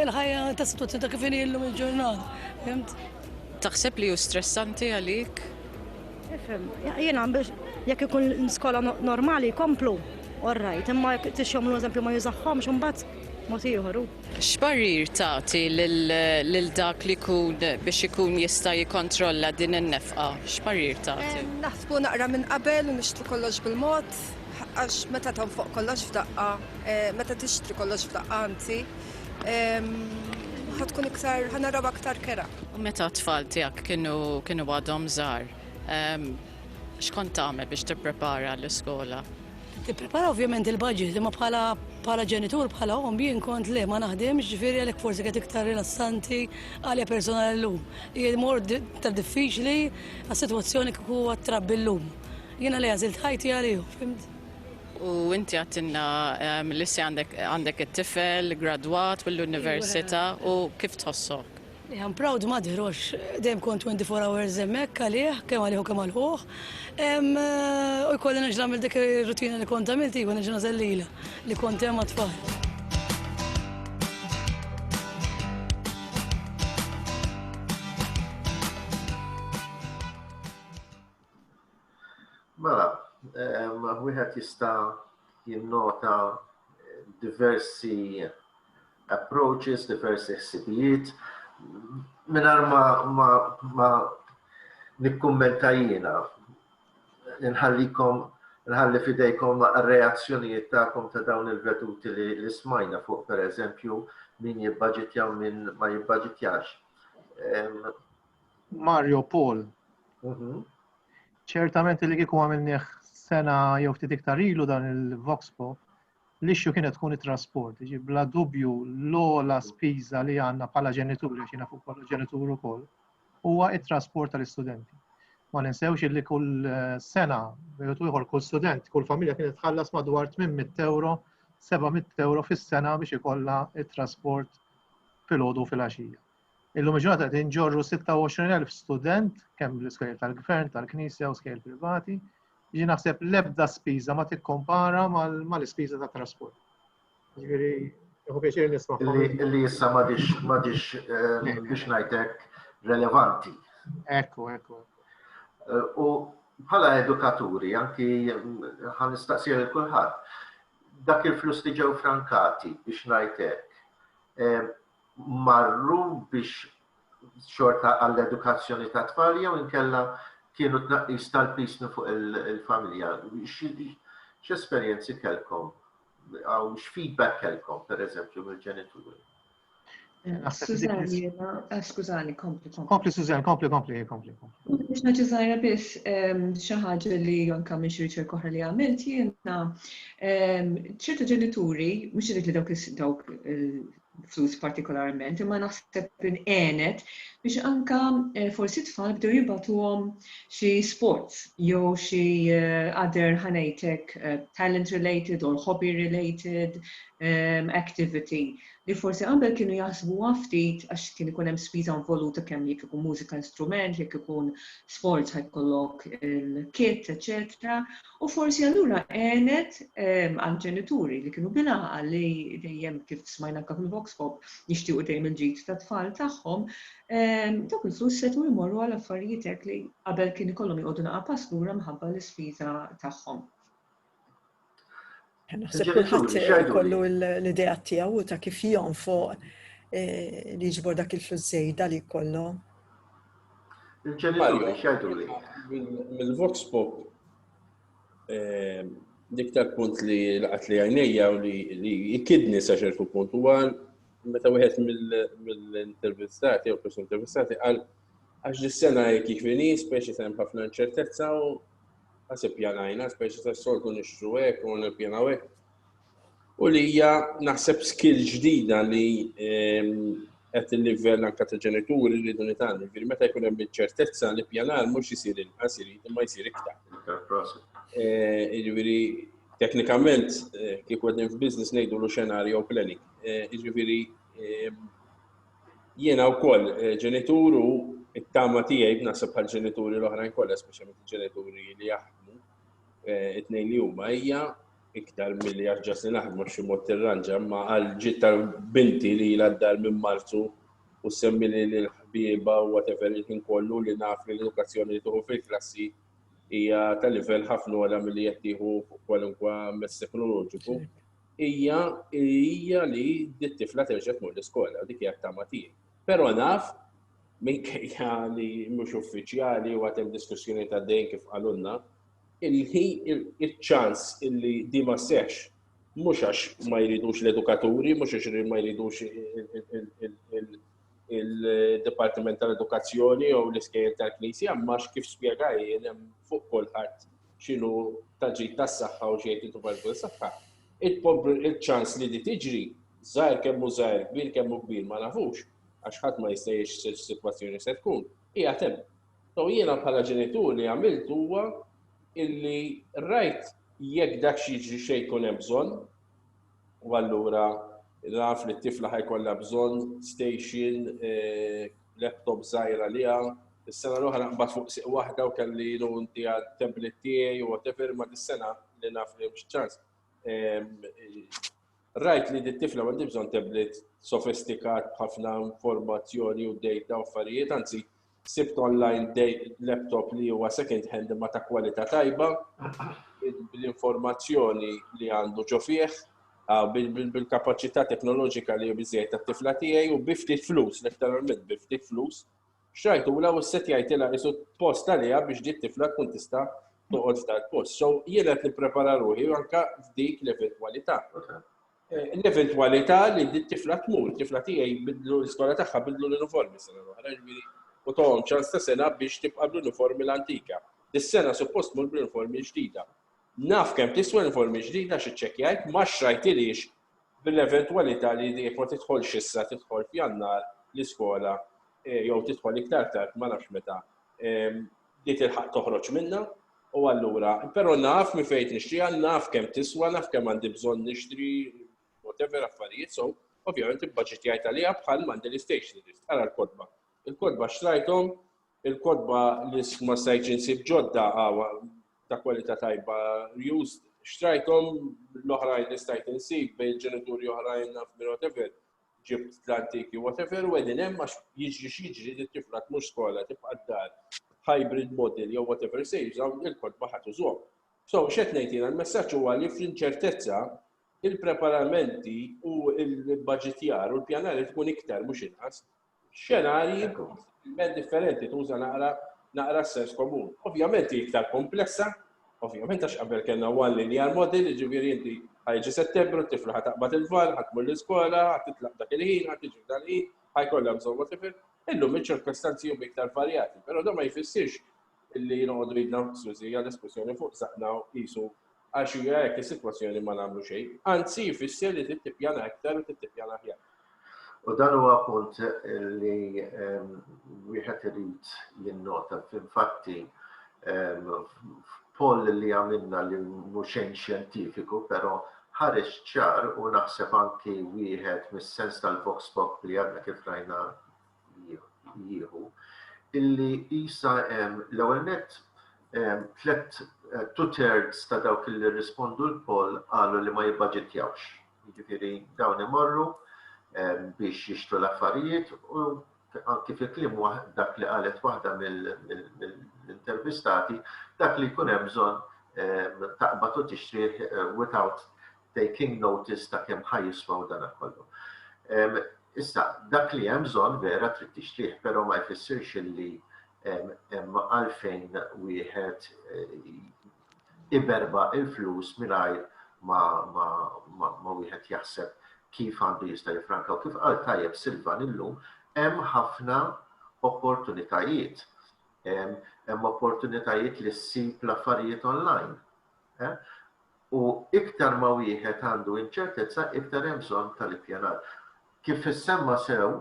il-ħajja ta' situazzjoni ta' kif inhi llum il-ġurnata, fimt? Taħseb li hu stressanti għalik? Ifhem, jiena biex jekk ikun skola normali jkomplu, all right, imma jekk tixhom l-eżempju ma jużahomx imbagħad mod ieħor. X'parir tagħti lil dak li jkun biex ikun jista' jikkontrolla din in-nefqa? X'parir tagħti? Naħsbu naqra minn qabel u nixtru kollox bil-mod għax meta tonfoq kollox f'daqqa, meta tixtri kollox f'daqqa anzi, ħatkun iktar ħanarab aktar kera. U meta t-tfal tiegħek kienu kienu għadhom żgħar, x'kont tagħmel biex tipprepara l-iskola? Tipprepara ovvjament il-budget, imma bħala bħala ġenitur bħala om jien kont le ma naħdimx ġifieri għalhekk forsi qed iktar rilassanti għalja personali llum. Hija mor ta' diffiċli għas-sitwazzjoni kieku għat-trabbi llum. Jiena li għażilt ħajti għalihom, fimt? U inti għattinna ehm, li se għandek it-tifel, gradwat mill-università u kif tħossok? I'm proud mother, għax dejjem kont 24 hours emmek għalih, kemm għalih u kemm għalħuħ. U jkolli neġla mill dik rutina li kont għamilt, jgħu neġla zellila li kont hemm għatfall. Mela, wieħed jista' jinnota diversi approaches, diversi ħsibijiet, minar ma, ma, ma nikkummenta jiena, nħallikom nħalli fidejkom reazzjonijiet ta'kom ta' dawn il-veduti li, li smajna fuq per eżempju min jibbaġitja u min ma jibbaġitjax. Mario Paul. Mhm. Ċertament li kieku għamilnieh sena jew ftit iktar ilu dan il-Vox Pop, l-issue kienet tkun it-trasport. Ġi bla dubju l-ola spiża li għandna bħala ġenituri, għax jiena fuq kollu ġenitur ukoll, huwa it-trasport tal-istudenti. Ma ninsewx li kull eh, sena, jew ieħor kull student, kull familja kienet tħallas madwar 800 euro, 700 euro fis-sena biex ikollha it-trasport fil-ħodu fil-għaxija. Illum il-ġurnata qed inġorru 26,000 student kemm l-iskejl tal-gvern, tal-knisja u skejl privati. Jiġi naħseb l-ebda spiża ma tikkompara mal-ispiża ta' trasport. Ġifieri, jħu pjaċir nisma' li issa ma dix ma dix eh, biex ngħidlek relevanti. Ekku, ekku. Eh, u bħala edukaturi, anki mm, ħan nistaqsir il kulħadd dak il-flus li ġew frankati biex ngħidlek eh, marru biex xorta għall-edukazzjoni ta' tfal jew inkella kienu tnaqqis tal-pis minn fuq il-familja. X'esperjenzi kellkom? Għaw x'feedback kellkom, per eżempju, mill-ġenituri? Eh, skużani, kompli, kompli. Kompli, Suzan, kompli, kompli, kompli. Biex naċi zaħira bis, ehm, xaħġa li jonka minn xirċi koħra li għamilt, jena, ehm, ċertu ġenituri, mux li dawk dawk eh, flus partikolarment, imma naħseb inqenet biex anka eh, forsi tfal bdew jibatuhom xi sports jew xi eh, other ħanejtek eh, talent related or hobby related um, activity li forsi qabel kienu jaħsbu ftit għax kien ikun hemm spiża involuta kemm jekk ikun mużika instrument, jekk ikun sports ħajkollok il-kit, eċetera, U forsi allura għenet għall-ġenituri li kienu bil-għaqal li dejjem kif smajna anke fil-Vox Pop jixtiequ dejjem il-ġid tat-tfal tagħhom, dawk il-flus setgħu jmorru għal affarijiet hekk li qabel kien ikollhom joqogħdu naqa' pass lura minħabba l-ispiża tagħhom. Naħseb kulħadd ikollu l-idea tiegħu ta' kif jom fuq eh, li jiġbor dak il-flus żejda li jkollu. Il-ġenituri x'għidu li? Mill-Vox Pop eh, dik tal-punt li laqat li għajnejja u li jikidni sa ċertu punt u għal meta wieħed mill-intervistati jew persuni intervistati għal għax dis-sena jekk jiġri speċi hemm ħafna inċertezza u Għas ippjanajna, speċi ta' soltu nixtru hekk u nippjanaw hekk. U li hija naħseb skill ġdida li ehm, qed il-livell anke ta' ġenituri li dun itan. Ġifieri meta jkun hemm iċ-ċertezza li pjanar mhux isir inqas irid imma jsir iktar. Eh, jiġifieri teknikament eh, kif qegħdin f'business ngħidu lu xenarju planning. Eh, jiġifieri ehm, Jiena wkoll eh, ġenitur u t-tama tiegħi b'naħseb bħal ġenituri l-oħrajn kollha, speċjalment il-ġenituri li jaħdmu eh, it-tnejn li huma hija iktar milli għax li naħdmu xi mod tirranġa ma għal ġid tal-binti li l-għaddar minn Marzu u semmi li l-ħbieba u whatever il-ħin kollu li naf li l-edukazzjoni li tuħu fil-klassi hija tal-livell ħafna għala milli qed tieħu kwalunkwa mess teknoloġiku. hija hija li d-tifla terġa' tmur l-iskola, dik hija t-tama tiegħi. Però naf minkejja li mhux uffiċjali u għatem diskussjoni ta' dejn kif qalunna, il-ċans illi di ma seħx mhux għax ma jridux l-edukaturi, mhux għax ma jridux il-Dipartiment tal-Edukazzjoni jew l-iskejjel tal-Knisja, imma kif spjegaj fuq kulħadd x'inhu taġid tas-saħħa u x'jgħid it-tubal dwar is-saħħa, iċ-ċans li di tiġri, żgħir kemm hu żgħir, kbir kemm hu kbir ma nafux, għax ħadd ma jista' jgħix x'sitwazzjoni se tkun, qiegħed hemm. So jiena bħala ġenitur li għamilt huwa illi rajt jekk dak x'jiġri xejn jkun hemm bżonn, u allura naf li t-tifla ħajkollha bżonn station eh, laptop żgħira li hawn. Is-sena l-oħra qbad fuq siq waħda u kelli lu inti għat-tablet tiegħi u whatever ma dis-sena li naf li mhux ċans. Rajt li dit-tifla għandi bżonn tablet sofistikat b'ħafna informazzjoni u data u affarijiet, anzi sibt online laptop li huwa second hand imma ta' kwalità tajba bl-informazzjoni li għandu ġo fih bil-kapaċità teknoloġika li biżejjed tat-tifla tiegħi u bi ftit flus, letteralment bi ftit flus, xtrajtula u ssetjajtilha isu post għaliha biex di tifla tkun tista' toqgħod f'dal post. So jien qed nipprepara ruħi anke f'dik l-eventwalità. Eh, l-eventwalità li di tifla tmur, tifla tiegħi bidlu l-iskola tagħha bidlu l-uniformi sena l-oħra, u tohom ċans ta' sena biex tibqa' bl-uniformi l-antika. Dis-sena suppost mur bl-uniformi ġdida. Naf kemm tiswa l-uniformi ġdida għax iċċekkjajt, ma xtrajthilhiex bil-eventwalità li jekk ma tidħolx issa tidħol f'Jannar l-iskola jew tidħol iktar tard ma nafx meta li tilħaq toħroġ minnha u allura però naf minn fejn nixtriha, naf kemm tiswa, naf kemm għandi bżonn nixtri whatever affarijiet so ovvjament ibbaġitjajt għaliha bħal m'għandi l-istage li rrid. Ara l-kotba. Il-kotba xtrajthom Il-kotba li ma stajtx insib ġodda għawa ta' kwalità tajba used. Xtrajthom l-oħrajn li stajt insib bejn ġenituri oħrajn naf minn whatever ġibt l-antiki whatever u għedin hemm għax jiġri x'jiġri li tifla tmux skola tibqa' d-dar hybrid model jew whatever se jużaw il-kotba ħadd użhom. So x'qed ngħid jiena l-messaġġ huwa li fl-inċertezza il-preparamenti u l-baġitjar u l-pjanar tkun iktar mhux inqas. xenarji possibilment differenti tuża naqra naqra s-sens komun. Ovvjament hi iktar komplessa, ovvjament għax qabel kellna one linear model, jiġifieri inti ħajġi Settembru, t-tifla ħa taqbad il-van, ħa tmur l-iskola, ħa titlaq dak il-ħin, ħa tiġi f'dan il-ħin, ħajkollha bżonn whatever. Illum iċ-ċirkostanzi huma iktar varjati, però dan ma jfissirx illi noqogħdu jidna mqsusi għal espressjoni fuq saqna u qisu għax hija hekk is-sitwazzjoni ma nagħmlu xejn. Anzi jfisser li trid tippjana aktar u trid tippjana aħjar. U dan huwa punt li ehm, wieħed irid jinnota fil-fatti ehm, poll li għamilna li muxejn xjentifiku, pero ħareġ ċar u naħseb anki wieħed mis-sens tal-Vox Pop li għadna kif rajna jieħu illi jisa hemm l-ewwel nett tliet eh, two thirds ta' dawk li rispondu l-poll qalu li ma jibbaġitjawx. Jiġifieri dawn imorru biex jixtru l-affarijiet u anki fi klim dak li qalet waħda mill-intervistati dak li jkun hemm bżonn taqbad u tixtri eh, without taking notice ta' kemm ħa jiswaw dana kollu. Issa, dak li hemm bżonn vera trid tixtrih, però ma jfissirx li hemm għalfejn wieħed eh, iberba il-flus mingħajr ma wieħed jaħseb kif għandu jista' jifranka u kif qal tajjeb Silvan illum hemm ħafna opportunitajiet. Hemm opportunitajiet li ssib l-affarijiet online. U iktar ma wieħed għandu inċertezza, iktar hemm bżonn tal-ippjanar. Kif issemma sew,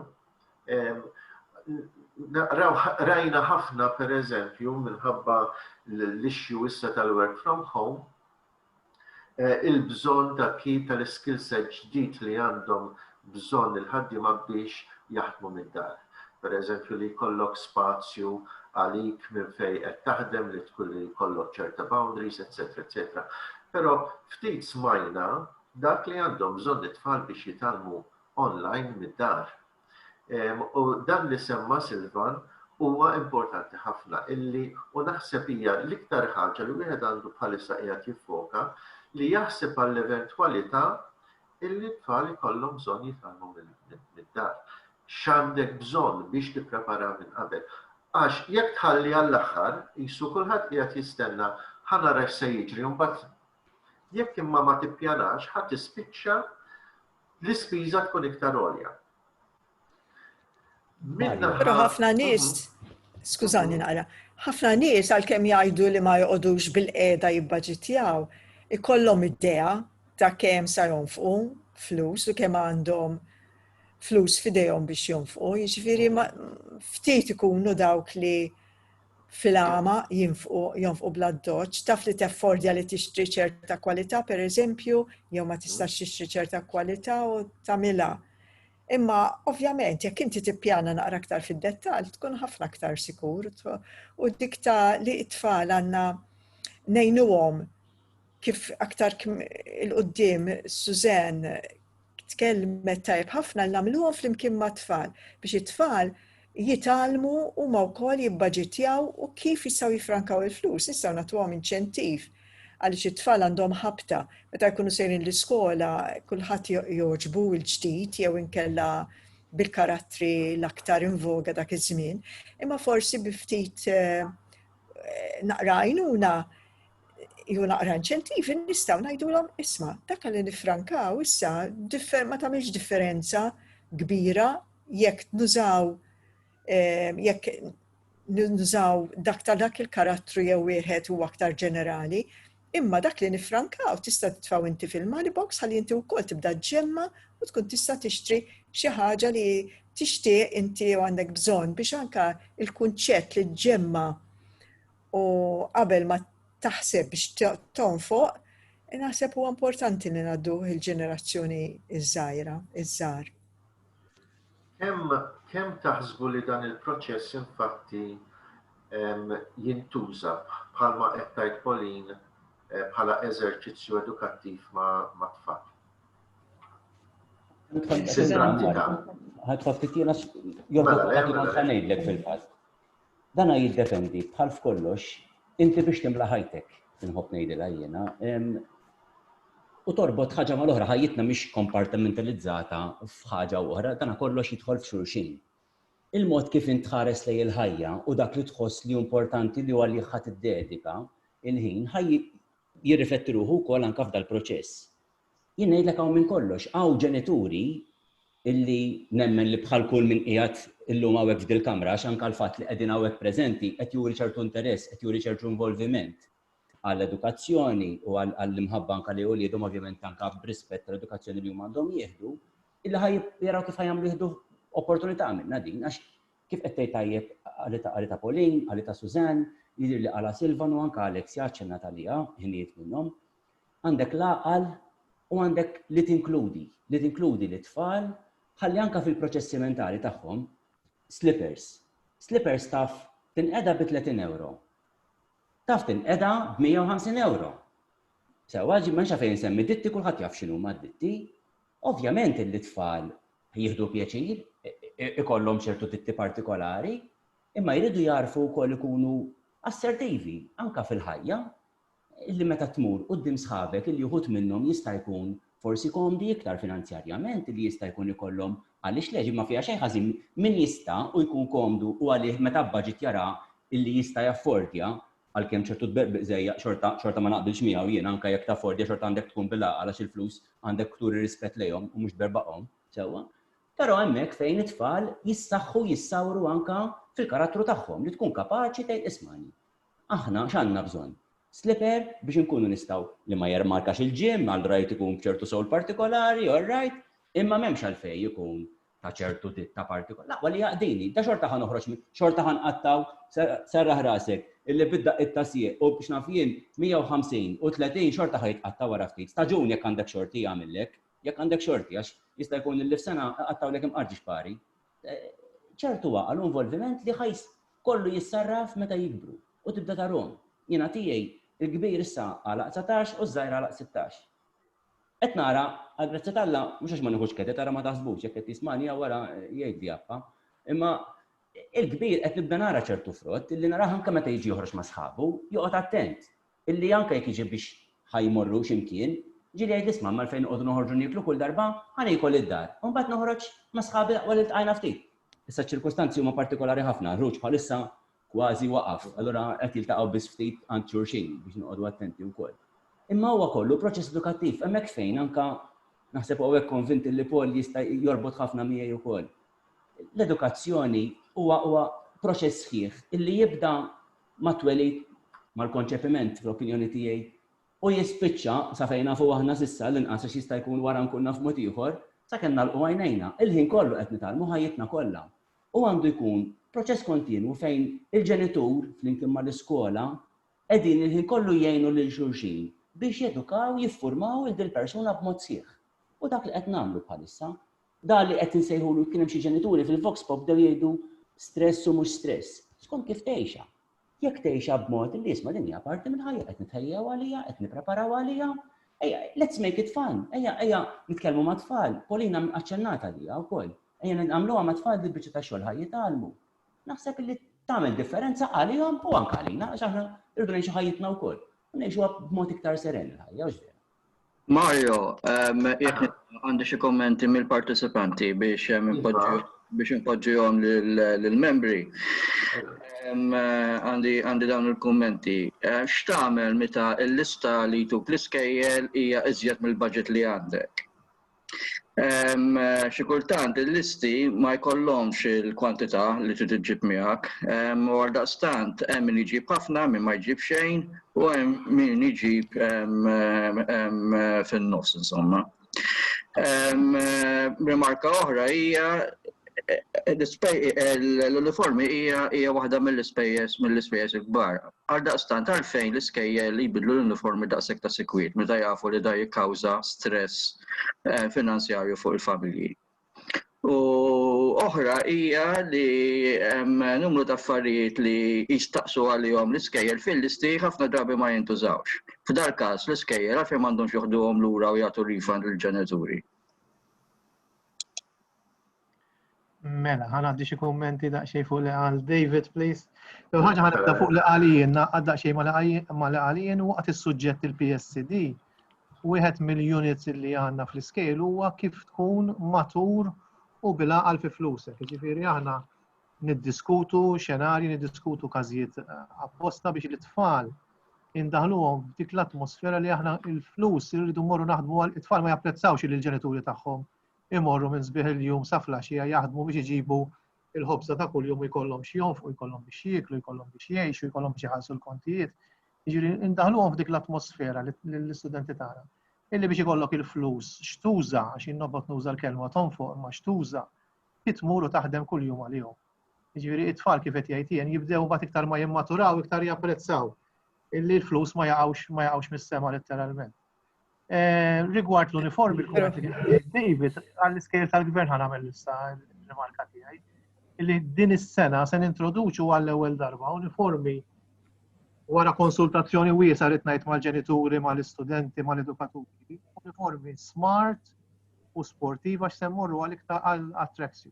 naqraw rajna ħafna pereżempju minħabba l-issue issa tal-work from home, il-bżonn ta' kif tal-skill set ġdid li għandhom bżonn il-ħaddiema biex jaħdmu mid-dar. Pereżempju li jkollok spazju għalik minn fejn qed taħdem li tkun li jkollok ċerta boundaries etsetera etsetera. Però ftit smajna dak li għandhom bżonn it-tfal biex jitgħallmu online mid-dar. U dan li semma Silvan huwa importanti ħafna illi u naħseb hija l-iktar ħaġa li wieħed għandu bħalissa qiegħed jiffoka li jaħseb għall-eventwalità illi t-tfal ikollhom bżonn jitgħallmu mid-dar. X'għandek bżonn biex tipprepara minn qabel. Għax jekk tħalli għall-aħħar, qisu kulħadd qiegħed jistenna ħa nara x'se jiġri u mbagħad jekk imma ma tippjanax ħa tispiċċa l-ispiża tkun iktar għolja. Pero ħafna nies, skużani naqra, ħafna nies għalkemm jgħidu li ma joqogħdux bil-qeda jibbaġitjaw, ikollhom idea ta' kemm sa jonfqu flus u kemm għandhom flus fidejhom biex jonfqu, jiġifieri ftit ikunu dawk li fil-għama jinfqu jonfqu bla doċ, taf li teffordja li tixtri ċerta kwalità pereżempju, jew ma tistax tixtri ċerta kwalità u tagħmilha. Imma ovvjament jekk inti tippjana naqra aktar fid-dettall tkun ħafna aktar sikur u dik ta' li t-tfal għandna ngħinuhom kif aktar il-qoddim Suzanne tkellmet tajb ħafna l-namluhom fl-imkien ma' tfal biex it-tfal jitgħallmu huma wkoll jibbaġitjaw u kif jistgħu jiffrankaw il-flus. Nistgħu nagħtuhom inċentiv għaliex it-tfal għandhom ħabta meta jkunu sejrin l-iskola kulħadd jogħġbu l-ġdid jew inkella bil-karattri l-aktar invoga dak iż-żmien, imma forsi bi ftit eh, naqra għajnuna jew naqra inċentivi nistgħu ngħidulhom isma' dak li nifrankaw issa ma tagħmilx differenza kbira jekk nużaw jekk nużaw dak ta' dak il-karattru jew wieħed u aktar ġenerali, imma dak li nifrankaw tista' titfaw inti fil-money box ħalli inti wkoll tibda ġemma u tkun tista' tixtri xi ħaġa li tixtieq inti u għandek bżonn biex anka il-kunċett li ġemma u qabel ma taħseb biex tonfoq, naħseb huwa importanti li ngħaddu il-ġenerazzjoni iż-żgħira, iż-żgħar. Kemm kemm taħsbu li dan il-proċess infatti jintuża bħalma qed tgħid Pauline eh, bħala eżerċizzju edukattiv ma' tfal. Ħatħoss ftit jiena mela, mela, mela. ngħidlek fil-fatt. Dan jiddependi bħal f'kollox inti biex timla ħajtek, inħobb ngħidilha jiena, u torbot ħaġa mal-oħra, ħajjitna mhix kompartimentalizzata f'ħaġa u oħra, dan kollox jidħol f'xulxin. Il-mod kif int tħares lej il-ħajja u dak li tħoss li importanti li għalih ħadd iddedika il-ħin ħaj jirrifletti ruħu wkoll anke f'dal-proċess. Jien ngħidlek hawn minn kollox, hawn ġenituri illi nemmen li bħal kull min qiegħed illum hawnhekk f'dil kamra għax anke l-fatt li qegħdin hawnhekk preżenti qed juri ċertu interess, qed juri ċertu involviment għall-edukazzjoni u għall-imħabba anke li uliedhom ovvjament anke b'rispett tal-edukazzjoni li huma għandhom jieħdu, illi ħaj jaraw kif ħajamlu jieħdu opportunità minna din, għax kif qed tgħid tajjeb għalita Pauline, għalita Suzanne, jidir li għala Silvan u anke Alex jaċċenna talija, ħinijiet minnhom, Għandek l-għaqal u għandek li tinkludi, li tinkludi lit-tfal ħalli anke fil-proċessi mentali tagħhom, slippers, slippers taf tinqeda bi 30 ewro. Taf tinqeda b'150 ewro. Sewwa, ma nxa fejn semmi ditti kulħadd jaf x'inhuma d-ditti. Ovvjament li tfal jieħdu pjaċir, ikollhom ċertu titti partikolari, imma jridu jarfu wkoll ikunu assertivi anka fil-ħajja, li meta tmur quddiem sħabek illi uħud minnhom jista' jkun forsi komdi iktar finanzjarjament illi jista' jkun ikollhom għaliex le xi ma fiha xejn ħażin min jista' u jkun komdu u għalih meta bbaġit jara illi jista' jaffordja għalkemm ċertu tbeqbeq żejjaq xorta xorta ma naqbilx miegħu jiena anke jekk taffordja xorta għandek tkun bil-għaqal għax il-flus għandek turi rispett lejhom u mhux b'erbaqhom sewwa però hemmhekk fejn it-tfal jissaħħu jissawru anke fil-karattru tagħhom li tkun kapaċi tgħid ismagħni Aħna x'għandna bżonn? Slipper biex inkunu nistgħu. Li ma jermarkax il-gym, allright ikun b'ċertu sole partikolari, allright, imma m'hemmx għalfejn ikun ta' ċertu ditta partikolari. L-aqwa li jaqdini, da xorta ħa noħroġ minn, xorta ħa nqattgħu, serraħ rasek, illi bid-daqqiet ta' sieq u biex naf jien 150 u 30 xorta ħa jitqatta' wara ftit. Staġun jekk għandek xorti jagħmillek, jekk għandek xorti għax jista' jkun illi f'sena iqattgħulek imqarġi x'pari. ċertu għaqal u involviment li ħa jkollu jissarraf meta jikbru u tibda tarhom. Jiena tiegħi l-kbir issa għalaq dsatax u ż-żgħir għalaq sittax. Qed nara, għall-grazzja t'Alla, mhux għax ma nieħux kredit, ara ma taħsbux, jekk qed jismagħni hawn wara jgħidli appa, imma il-kbir qed nibda nara ċertu frott li narah anke meta jiġi joħroġ ma' sħabu, joqgħod attent, Illi anke jekk jiġi biex ħa jmorru xi mkien, ġieli jgħidli 'sma' ma' għalfejn noqogħdu noħorġu nieklu kull darba, ħa niekol id-dar, u mbagħad noħroġ ma' sħabi l-aqwa li ltqajna ftit. Issa ċ-ċirkustanzi huma partikolari ħafna, l-ħruġ bħalissa kważi waqaf, allura qed jiltaqgħu biss ftit għand xulxin biex noqogħdu attenti wkoll. Imma huwa kollu proċess edukattiv, hemmhekk fejn anke naħseb u hawnhekk konvint illi Paul jista' jorbot ħafna miegħi wkoll. L-edukazzjoni huwa huwa proċess sħiħ illi jibda mat-twelid, mal-konċepiment, fl-opinjoni tiegħi, u jispiċċa, sa fejn nafu aħna s'issa, l-inqas għax jista' jkun wara nkun naf mod ieħor, sakemm nagħlqu għajnejna, il-ħin kollu qed nitgħallmu ħajjitna kollha. U għandu jkun proċess kontinwu fejn il-ġenitur, flimkien mal-iskola, qegħdin il-ħin kollu jgħinu lil xulxin biex jedukaw, jiffurmaw lil dil-persuna b'mod sħiħ. U dak li qed nagħmlu bħalissa. Dan li qed insejħulu kien hemm xi ġenituri fil-vox pop bdew jgħidu stress u mhux stress. Skont kif tgħixha. Jekk tgħixha b'mod li isma' din hija parti minn ħajja qed nitħejjew għaliha, qed nippreparaw għaliha, ejja let's make it fun, ejja ejja nitkellmu mat-tfal, Polina aċċennat għaliha wkoll, ejja nagħmluha mat-tfal din biċċa ta' xogħol ħa jitgħallmu. Naħseb li tagħmel differenza għalihom u anke għalina għax aħna rridu ngħixu ħajjitna wkoll u ngħixuha b'mod iktar seren il-ħajja, Mario, jekk għandi xi kommenti mill-partecipanti biex inpoġġihom lill-membri. Għandi dawn il-kummenti. X'tagħmel meta l-lista li jtuk l-iskejjel hija iżjed mill-budget li għandek? Xi kultant il-listi ma jkollhomx il-kwantità li trid iġġib miegħek, u għaldaqstant hemm min iġib ħafna, min ma jġib xejn u hemm min iġib fin-nofs insomma. Rimarka oħra hija l-uniformi hija waħda mill-ispejjeż mill-ispejjeż il-kbar. Għaldaqstant, għalfejn l-iskejjel jbiddlu l-uniformi daqshekk ta' sikwit meta jafu li dan jikkawża stress finanzjarju fuq il-familji? U oħra hija li hemm numru ta' affarijiet li jistaqsu għalihom l-iskejjel fil-listi ħafna drabi ma jintużawx. F'dal-każ, l-iskejjel għalfejn m'għandhomx joħduhom lura u jagħtu refund lill-ġenituri? Mela, ħan għaddi xie kommenti daqxej fuq li għal David, please. Jew ħagħa ħan għadda fuq li għalijin, għadda daqxej ma li għalijin waqt il-sujġet il-PSD. Wieħed mill-units li għanna fl-iskejl huwa kif tkun matur u bila għal fi flusek. Ġifiri għana niddiskutu xenari, niddiskutu kazijiet eh, apposta biex l-tfal indaħluhom f'dik l-atmosfera li aħna il-flus irridu morru naħdmu għal it-tfal ma japprezzawx il-ġenituri tagħhom imorru minn sbieħ il-jum sa flaxija jaħdmu biex iġibu il-ħobza ta' kuljum jkollhom xi jonfqu, jkollhom biex jieklu, jkollhom biex jgħixu, jkollhom biex iħallsu l-kontijiet. Jiġri indaħluhom f'dik l-atmosfera l-istudenti tagħna. Illi biex ikollok il-flus xtuża, għax jinnobot nuża l-kelma tonfoq imma xtuża, titmur u taħdem kuljum għalihom. Jiġri it-tfal kif qed jgħid jien jibdew mbagħad iktar ma jimmaturaw iktar japprezzaw illi l-flus ma jaqgħux ma jaqgħux mis-sema letteralment. Rigward l-uniformi, David, għall-iskejl tal-gvern għan għamil issa rimarka tiegħi, li din is-sena se nintroduċu għall-ewwel darba uniformi wara konsultazzjoni wiesa li tnajt mal-ġenituri, mal-istudenti, mal-edukaturi, uniformi smart u sportiva x'semmorru għal iktar għal-attrazzju.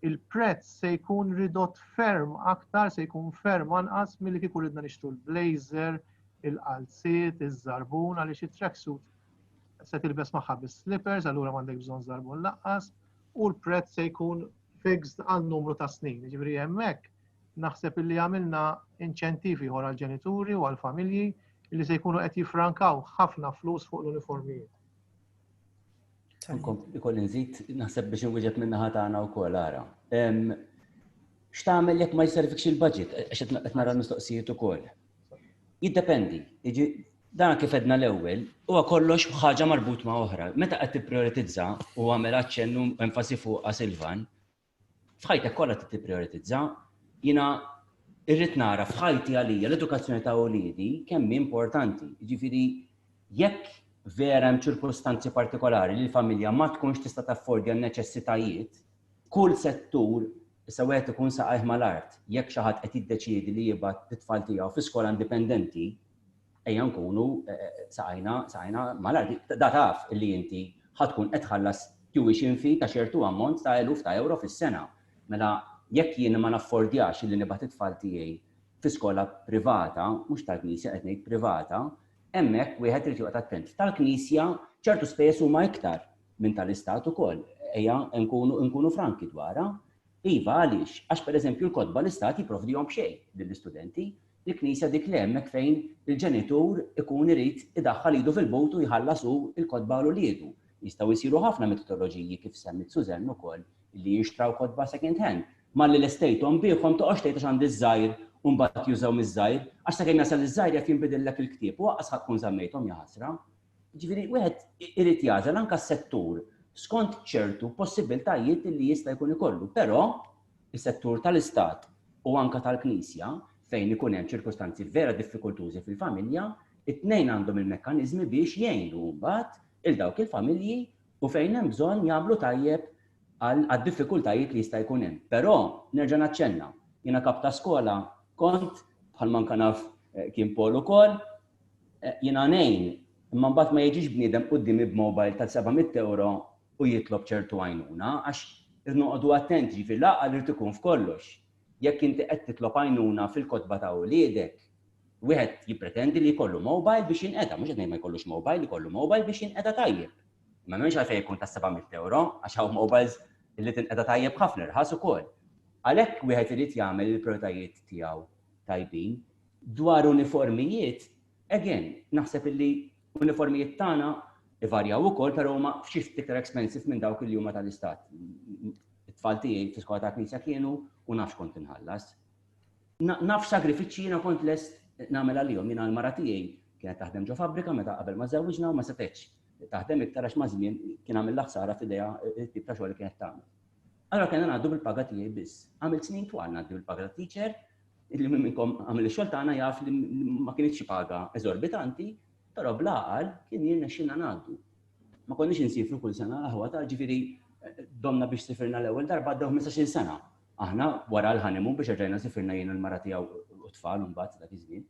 il-prezz se jkun ridott ferm aktar, se jkun ferm anqas milli kieku ridna nixtru l-blazer, il-qalziet, iż-żarbun għaliex it-tracksuit se tilbes magħha bis-slippers, allura m'għandek bżonn żarbun laqqas, u l-prezz se jkun fixed għal numru ta' snin. Ġifieri hemmhekk naħseb illi għamilna inċentivi ieħor għall-ġenituri u għall-familji li se jkunu qed jifrankaw ħafna flus fuq l-uniformijiet. Ikolli nżid, naħseb biex inwieġeb minn naħa tagħna wkoll ara. X'tagħmel jekk ma jservikx il-budget, għax qed nara l-mistoqsijiet ukoll. Jiddependi, dan kif edna l-ewwel, huwa kollox ħaġa marbut ma' oħra. Meta qed tipprioritizza u għamel aċċennu enfasi fuq Silvan, F'ħajtek kollha trid tipprijoritizza. Jiena irrid nara f'ħajti għalija l-edukazzjoni ta' uliedi kemm hi importanti. Jiġifieri jekk vera hemm ċirkustanzi partikolari li l-familja ma tkunx tista' taffordja n-neċessitajiet, kull settur issa wieħed ikun saqajh mal-art. Jekk xi ħadd qed jiddeċiedi li jibgħat lit-tfal tiegħu fi skola indipendenti, ejja nkunu saqajna saqajna malajr da taf li inti ħad tkun qed tħallas tuition fee ta' ċertu ammont ta' eluf ta' ewro fis-sena. Mela jekk jien ma naffordjax li nibgħat it-tfal tiegħi fi skola privata, mhux tal-Knisja qed ngħid privata, hemmhekk wieħed irid joqgħod attent. Tal-Knisja ċertu spejjeż huma iktar minn tal-Istat ukoll. Ejja nkunu nkunu franki dwarha. Iva għaliex? Għax pereżempju l-kotba l-Istat jipprovdihom b'xejn lill-istudenti. Il-Knisja dik li hemmhekk fejn il-ġenitur ikun irid idaħħal idu fil-but u jħallas hu l-kotba għal uliedu. Jistgħu jsiru ħafna metodoloġiji, kif semmiet Suzanne ukoll, li jinxtraw kotba second hand. Malli l-estate home biegħhom toqgħodx tgħid għax għandi ż-żgħir u mbagħad jużaw miż-żgħir, għax sakemm jasal iż-żgħir jaf jinbidillek il-ktieb u aqqas ħadd tkun żammejthom jaħasra. Jiġifieri wieħed irid jagħżel anke s-settur skont ċertu possibbiltajiet li jista' jkun ikollu, però is-settur tal-istat u anke tal-Knisja fejn ikun hemm ċirkustanzi vera diffikultużi fil-familja, it-tnejn għandhom il-mekkaniżmi biex jgħinu mbagħad 'il dawk il-familji u fejn hemm bżonn jagħmlu tajjeb għad-diffikultajiet li jista' jkun hemm. Però nerġa' naċċenna, jiena kap ta' skola kont, bħalma anke naf kien Paul ukoll, Jiena ngħin, imma mbagħad ma jiġix bniedem quddiemi b'mobile ta' 700 ewro u jitlob ċertu għajnuna, għax irid noqogħdu attenti, jiġifieri l-għaqal irid ikun f'kollox. Jekk inti qed titlob għajnuna fil-kotba ta' uliedek, wieħed jippretendi li jkollu mobile biex jinqeda, mhux qed ngħid ma jkollux mobile, ikollu mobile biex jinqeda tajjeb. Imma m'hemmx għalfejn ikun ta' 700 ewro, għax hawn mobiles li tinqeda tajjeb ħafna irħas ukoll. Għalhekk wieħed irid jagħmel il-prijoritajiet tiegħu tajbin. Dwar uniformijiet, again, naħseb illi uniformijiet tagħna ivarjaw ukoll però huma f'xi ftit iktar expensive minn dawk li huma tal-istat. It-tfal tiegħi fl-iskola ta' knisja kienu u nafx kont inħallas. Naf sagrifiċċji jiena kont lest nagħmel għalihom jiena l-mara tiegħi kienet taħdem ġo fabbrika meta qabel ma żewwiġna u ma setgħetx taħdem iktar għax maż-żmien kien għamilha ħsara f'idejha t-tip ta' xogħol li kienet tagħmel. Allura kellna ngħaddu bil-paga tiegħi biss. Għamilt snin twal ngħaddi bil-paga ta' teacher Li minn minnkom għamel ix-xogħol tagħna jaf li ma kinitx xi paga eżorbitanti, però bl-għaqal kien jirnexxilna ngħaddu. Ma konniex insiefru kull sena l-aħwa ta' ġifieri domna biex sifirna l-ewwel darba għaddew ħmistax-il sena. Aħna wara l-honeymoon biex erġajna sifirna jien u l-mara tiegħu u t-tfal imbagħad dak iż-żmien.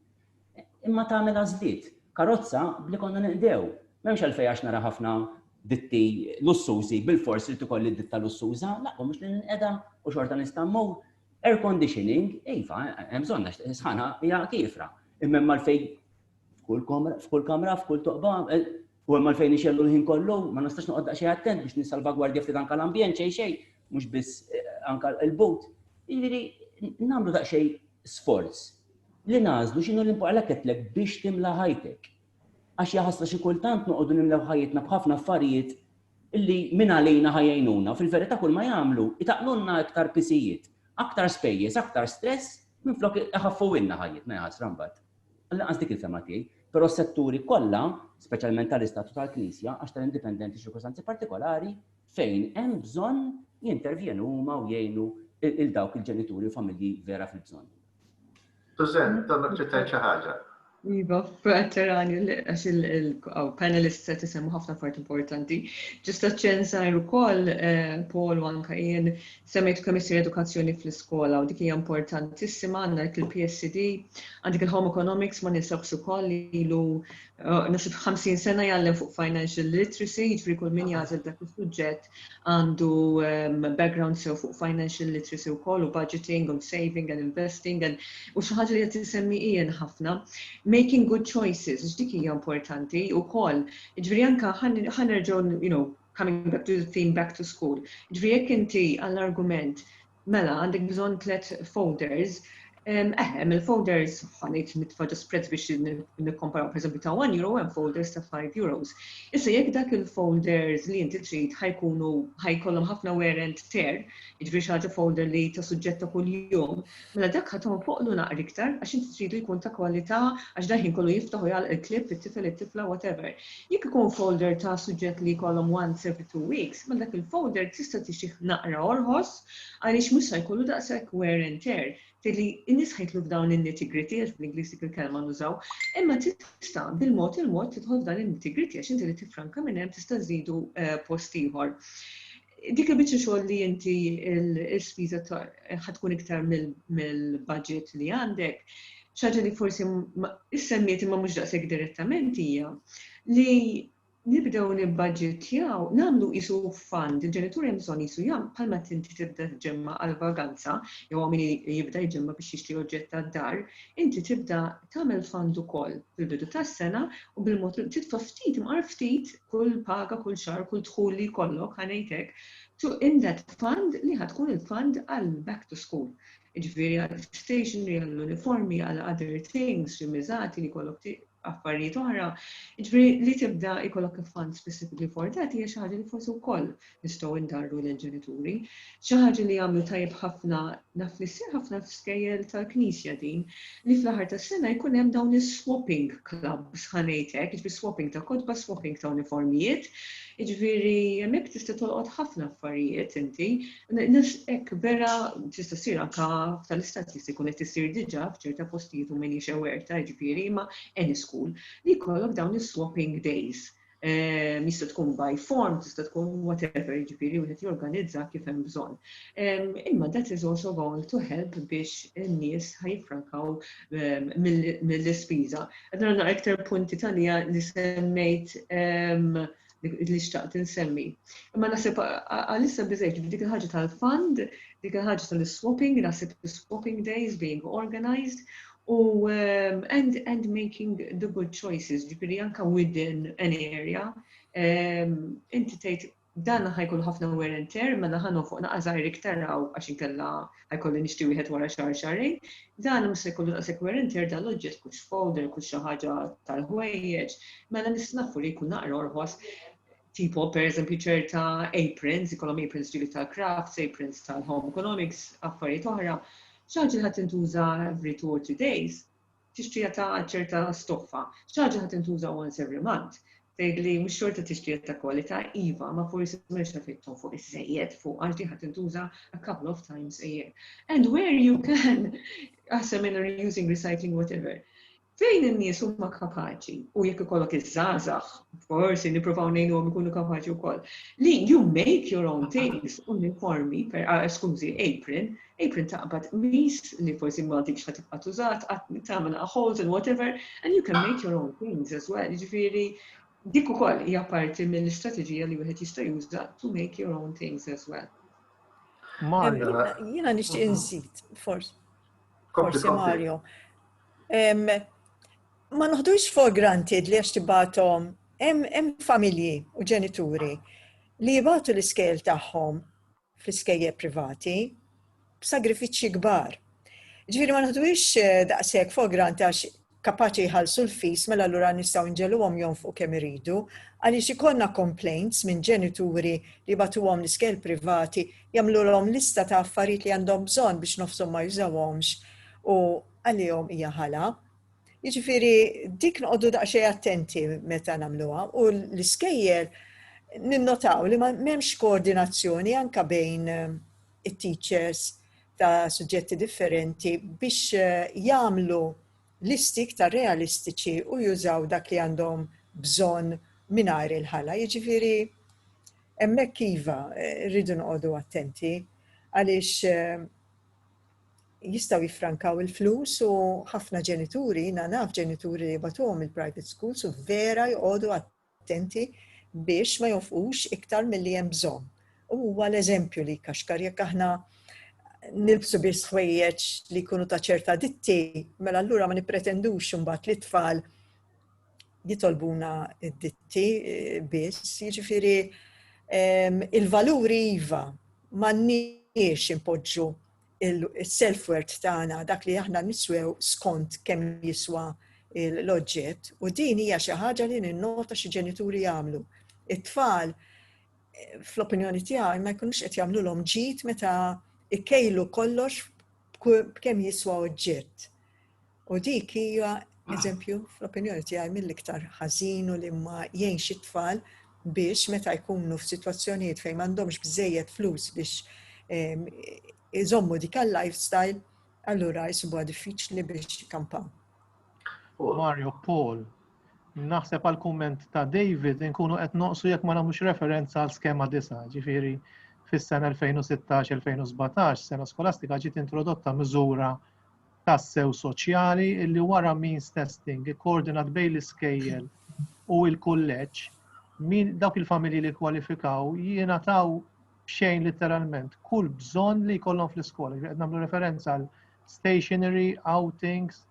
Imma tagħmel għażliet. Karozza b'li konna neqdew. M'hemmx għalfejn għax nara ħafna ditti lussużi bilfors irid ikolli ditta lussuża, l-aqwa mhux li ninqeda u xorta nista' mmur, Air conditioning, iva, hemm bżonn għax sħana hija kiefra. Imma hemm għalfejn f'kull kamra, f'kull kamra, f'kull toqba, eh, u hemm għalfejn ixellu l-ħin kollu, ma nistax noqgħod daqsxejn attent biex nissalvagwardja ftit anke l-ambjent xejn xejn, mhux biss eh, anke l-but. Jiġifieri nagħmlu daqsxejn sforz li nażlu x'inhu l-importanti għalhekk qedtlek biex timla ħajtek. Għax jaħaslu xi kultant noqogħdu nimlew ħajjitna b'ħafna affarijiet li minn għalina ħa jgħinuna u fil-verità kulma jagħmlu jtaqqlulna iktar pisijiet, aktar spejjeż, aktar stress minflok iħaffuwilna ħajjitna jaħasra mbagħad. Lanqas dik il-fehma tiegħi. Però s-setturi kollha, speċjalment tal-Istat u tal-Knisja, għax tal-indipendenti ċirkostanzi partikolari, fejn hemm bżonn jintervjenu huma u jgħinu 'l dawk il-ġenituri u familji vera fil-bżonn. Susan, donnok trid tgħid xi ħaġa. Iva, veterani li għax il-panelist se tisemmu ħafna part importanti. Ġusta ċensar ukoll eh, Paul u anka jien semmejt kemm isir edukazzjoni fl-iskola u dik hija importantissima għandna dik il-PSD, għandik il-home economics ma ninsabx ukoll li ilu eh, nasib 50 sena jgħallem fuq financial literacy, jiġri kull min jagħżel dak is-suġġett għandu background sew fuq financial literacy wkoll u budgeting u saving and investing and u xi ħaġa li qed isemmi Ian ħafna, making good choices, għax dik hija importanti wkoll. Jiġifieri anke ħa nerġgħu you know coming back to the theme back to school. Jiġifieri jekk inti għall-argument Mela għandek bżonn tliet folders. Eh, hemm il-folders ħanejt nitfa' ġo spreads biex nikkomparaw pereżempju ta' 1 euro hemm folders ta' 5 euros. Issa jekk dak il-folders li inti trid ħajkunu ħajkollhom ħafna wear and tear, jiġri xi ħaġa folder li ta' suġġett ta' kuljum, mela dak ħathom foqlu naqri iktar għax inti tridu jkun ta' kwalità għax daħin kollu jiftaħ u jgħalq il-klib, it-tifel, it-tifla, whatever. Jekk ikun folder ta' suġġett li jkollhom once every two weeks, mela dak il-folder tista' tixtih naqra orħos għaliex mhux sa jkollu daqshekk wear and tear. Tgħid li n-nies ħa jidħlu f'dawn in-nitty-gritty għax bl-Ingliż dik il-kelma nużaw, imma tista' bil-mod il-mod tidħol f'dan in-nitty-gritty għax inti li tiffranka minn hemm tista' żżidu post ieħor. Dik il-biċċa xogħol li inti l-ispiża ħad tkun iktar mill-budget li għandek, xaġa li forsi issemmiet imma mhux daqshekk direttament hija li nibdew nibbaġġettjaw, nagħmlu qisu fund, il-ġenitur hemm bżonn qisu jagħmel bħalma inti tibda tġemma' għall-vaganza jew hawn min jibda jġemma' biex jixtri oġġett tad-dar, inti tibda tagħmel fund ukoll fil-bidu tas-sena u bil-mod titfa' ftit imqar ftit kull paga, kull xahar, kull dħul li jkollok, ħa ngħid hekk, to in that fund li ħa tkun il-fund għal back to school. Jiġifieri għal stationery, għal uniformi, għal other things, xi miżati li jkollok affarijiet oħra, ġifieri li tibda jkollok fund specifically for that hija xi ħaġa li forsi wkoll nistgħu ndarru lill-ġenituri. Xi ħaġa li jagħmlu tajjeb ħafna, naf li ssir ħafna f'skejjel tal-Knisja din, li fl-aħħar tas-sena jkun hemm dawn is-swapping clubs ħa ngħid hekk, jiġifieri swapping ta' kotba, swapping ta' uniformijiet, jiġifieri hemmhekk tista' tolqot ħafna affarijiet inti. Hekk vera tista' ssir anke tal-istat jista' jkun qed isir diġà f'ċerta postijiet u m'iniex aware ta' jiġifieri ma' any school li jkollok dawn is-swapping days Jista' tkun by form, tista' tkun whatever, jiġifieri wieħed jorganizza kif hemm bżonn. Imma that is also going to help biex in-nies ħa jiffrankaw mill-ispiża. Qed nara naqra iktar punti tagħliha li semmejt li xtaqt insemmi. Imma naħseb għalissa biżejjed dik il-ħaġa tal-fund, dik il-ħaġa tal-swapping, naħseb swapping days being organized, U and, and making the good choices, ġifiri anka within an area, inti tgħid dan ħajkun ħafna wear and tear, ma naħanu fuq naqazajr iktar raw għax inkella ħajkolli nixti wieħed wara xar xarejn, dan mhux se jkollu naqsek wear and tear dal-oġġett kux folder, kux xi ħaġa tal-ħwejjeġ, mela nistnafu li jkun naqra orħos. Tipo, per eżempju, ċerta aprons, ikollhom aprons ġivi tal-crafts, aprons tal-home economics, affarijiet oħra, xaġa ħat intuża every two or three days, tixtrija ta' ċerta stoffa, xaġa ħat intuża once every month. Tgħid li mhux xorta tixtrija ta' kwalità iva, ma forsi mhux effettom fuq iż-żejjed fuq għax li ħat intuża a couple of times a year. And where you can, għasem in reusing, recycling, whatever, Fejn in-nies huma kapaċi, u jekk ikollok iż-żgħażagħ, forsi nippruvaw ngħinuhom ikunu kapaċi wkoll, li you make your own things, uniformi, skużi, apron, apron taqbad qmis li forsi ma għadikx ħa tibqa' tużat, tagħmel holes and whatever, and you can make your own things as well. Jiġifieri dik ukoll hija parti mill-istrateġija li wieħed jista' juża to make your own things as well. Jiena nixtieq inżid, forsi. Forsi Mario. ma noħdux for granted li għax tibatom hemm familji u ġenituri li jibatu l-iskejl tagħhom fl-iskejje privati b'sagrifiċċji kbar. Ġifieri ma noħdux eh, daqshekk for granted għax kapaċi jħallsu l-fis mela allura nistgħu nġeluhom jonfqu kemm iridu għaliex ikollna complaints minn ġenituri li batuhom l-iskejl privati jagħmlulhom lista ta' affarijiet li għandhom bżonn biex nofshom ma jużawhomx u għalihom hija ħala. Jiġifieri dik noqogħdu daqsxejn attenti meta nagħmluha u l-iskejjel ninnotaw li m'hemmx koordinazzjoni anka bejn eh, it-teachers ta' suġġetti differenti biex eh, jagħmlu listi iktar realistiċi u jużaw dak li għandhom bżonn mingħajr il-ħala. Jiġifieri Hemmhekk iva, rridu noqogħdu attenti għaliex jistgħu jiffrankaw il-flus u ħafna ġenituri, na naf ġenituri li batuhom il-private schools u vera joqogħdu attenti biex ma jofqux iktar milli hemm bżonn. U huwa l-eżempju li kaxkar jekk aħna nilbsu biss ħwejjeġ li jkunu ta' ċerta ditti, mela allura ma nippretendux imbagħad li tfal jitolbuna d-ditti eh, biss, jiġifieri il-valuri iva m'għandniex impoġġu il-self-worth tagħna dak li aħna niswew skont kemm jiswa l-oġġett u din hija xi ħaġa li ninnota xi ġenituri jagħmlu. It-tfal fl-opinjoni tiegħi ma jkunux qed jagħmlulhom ġid meta ikkejlu kollox b'kemm jiswa oġġett. U dik hija eżempju fl-opinjoni tiegħi mill-iktar ħażin u li ma jgħinx it-tfal biex meta jkunu f'sitwazzjonijiet fejn m'għandhomx bżejjed flus biex ehm, iżommu dik għal-lifestyle, allura jisibuha diffiċli biex kampaw. Mario Paul, naħseb għal kumment ta' David nkunu qed noqsu jekk ma nagħmlux referenza għal skema disa, ġifieri fis-sena 2016-2017 sena skolastika ġiet introdotta miżura tassew soċjali li wara means testing ikkoordinat bejn l-iskejjel u l-kulleġġ, min, dawk il-familji li kkwalifikaw jingħataw b'xejn litteralment kull bżonn li jkollhom fl-iskola. Qed nagħmlu referenza għal stationery, outings,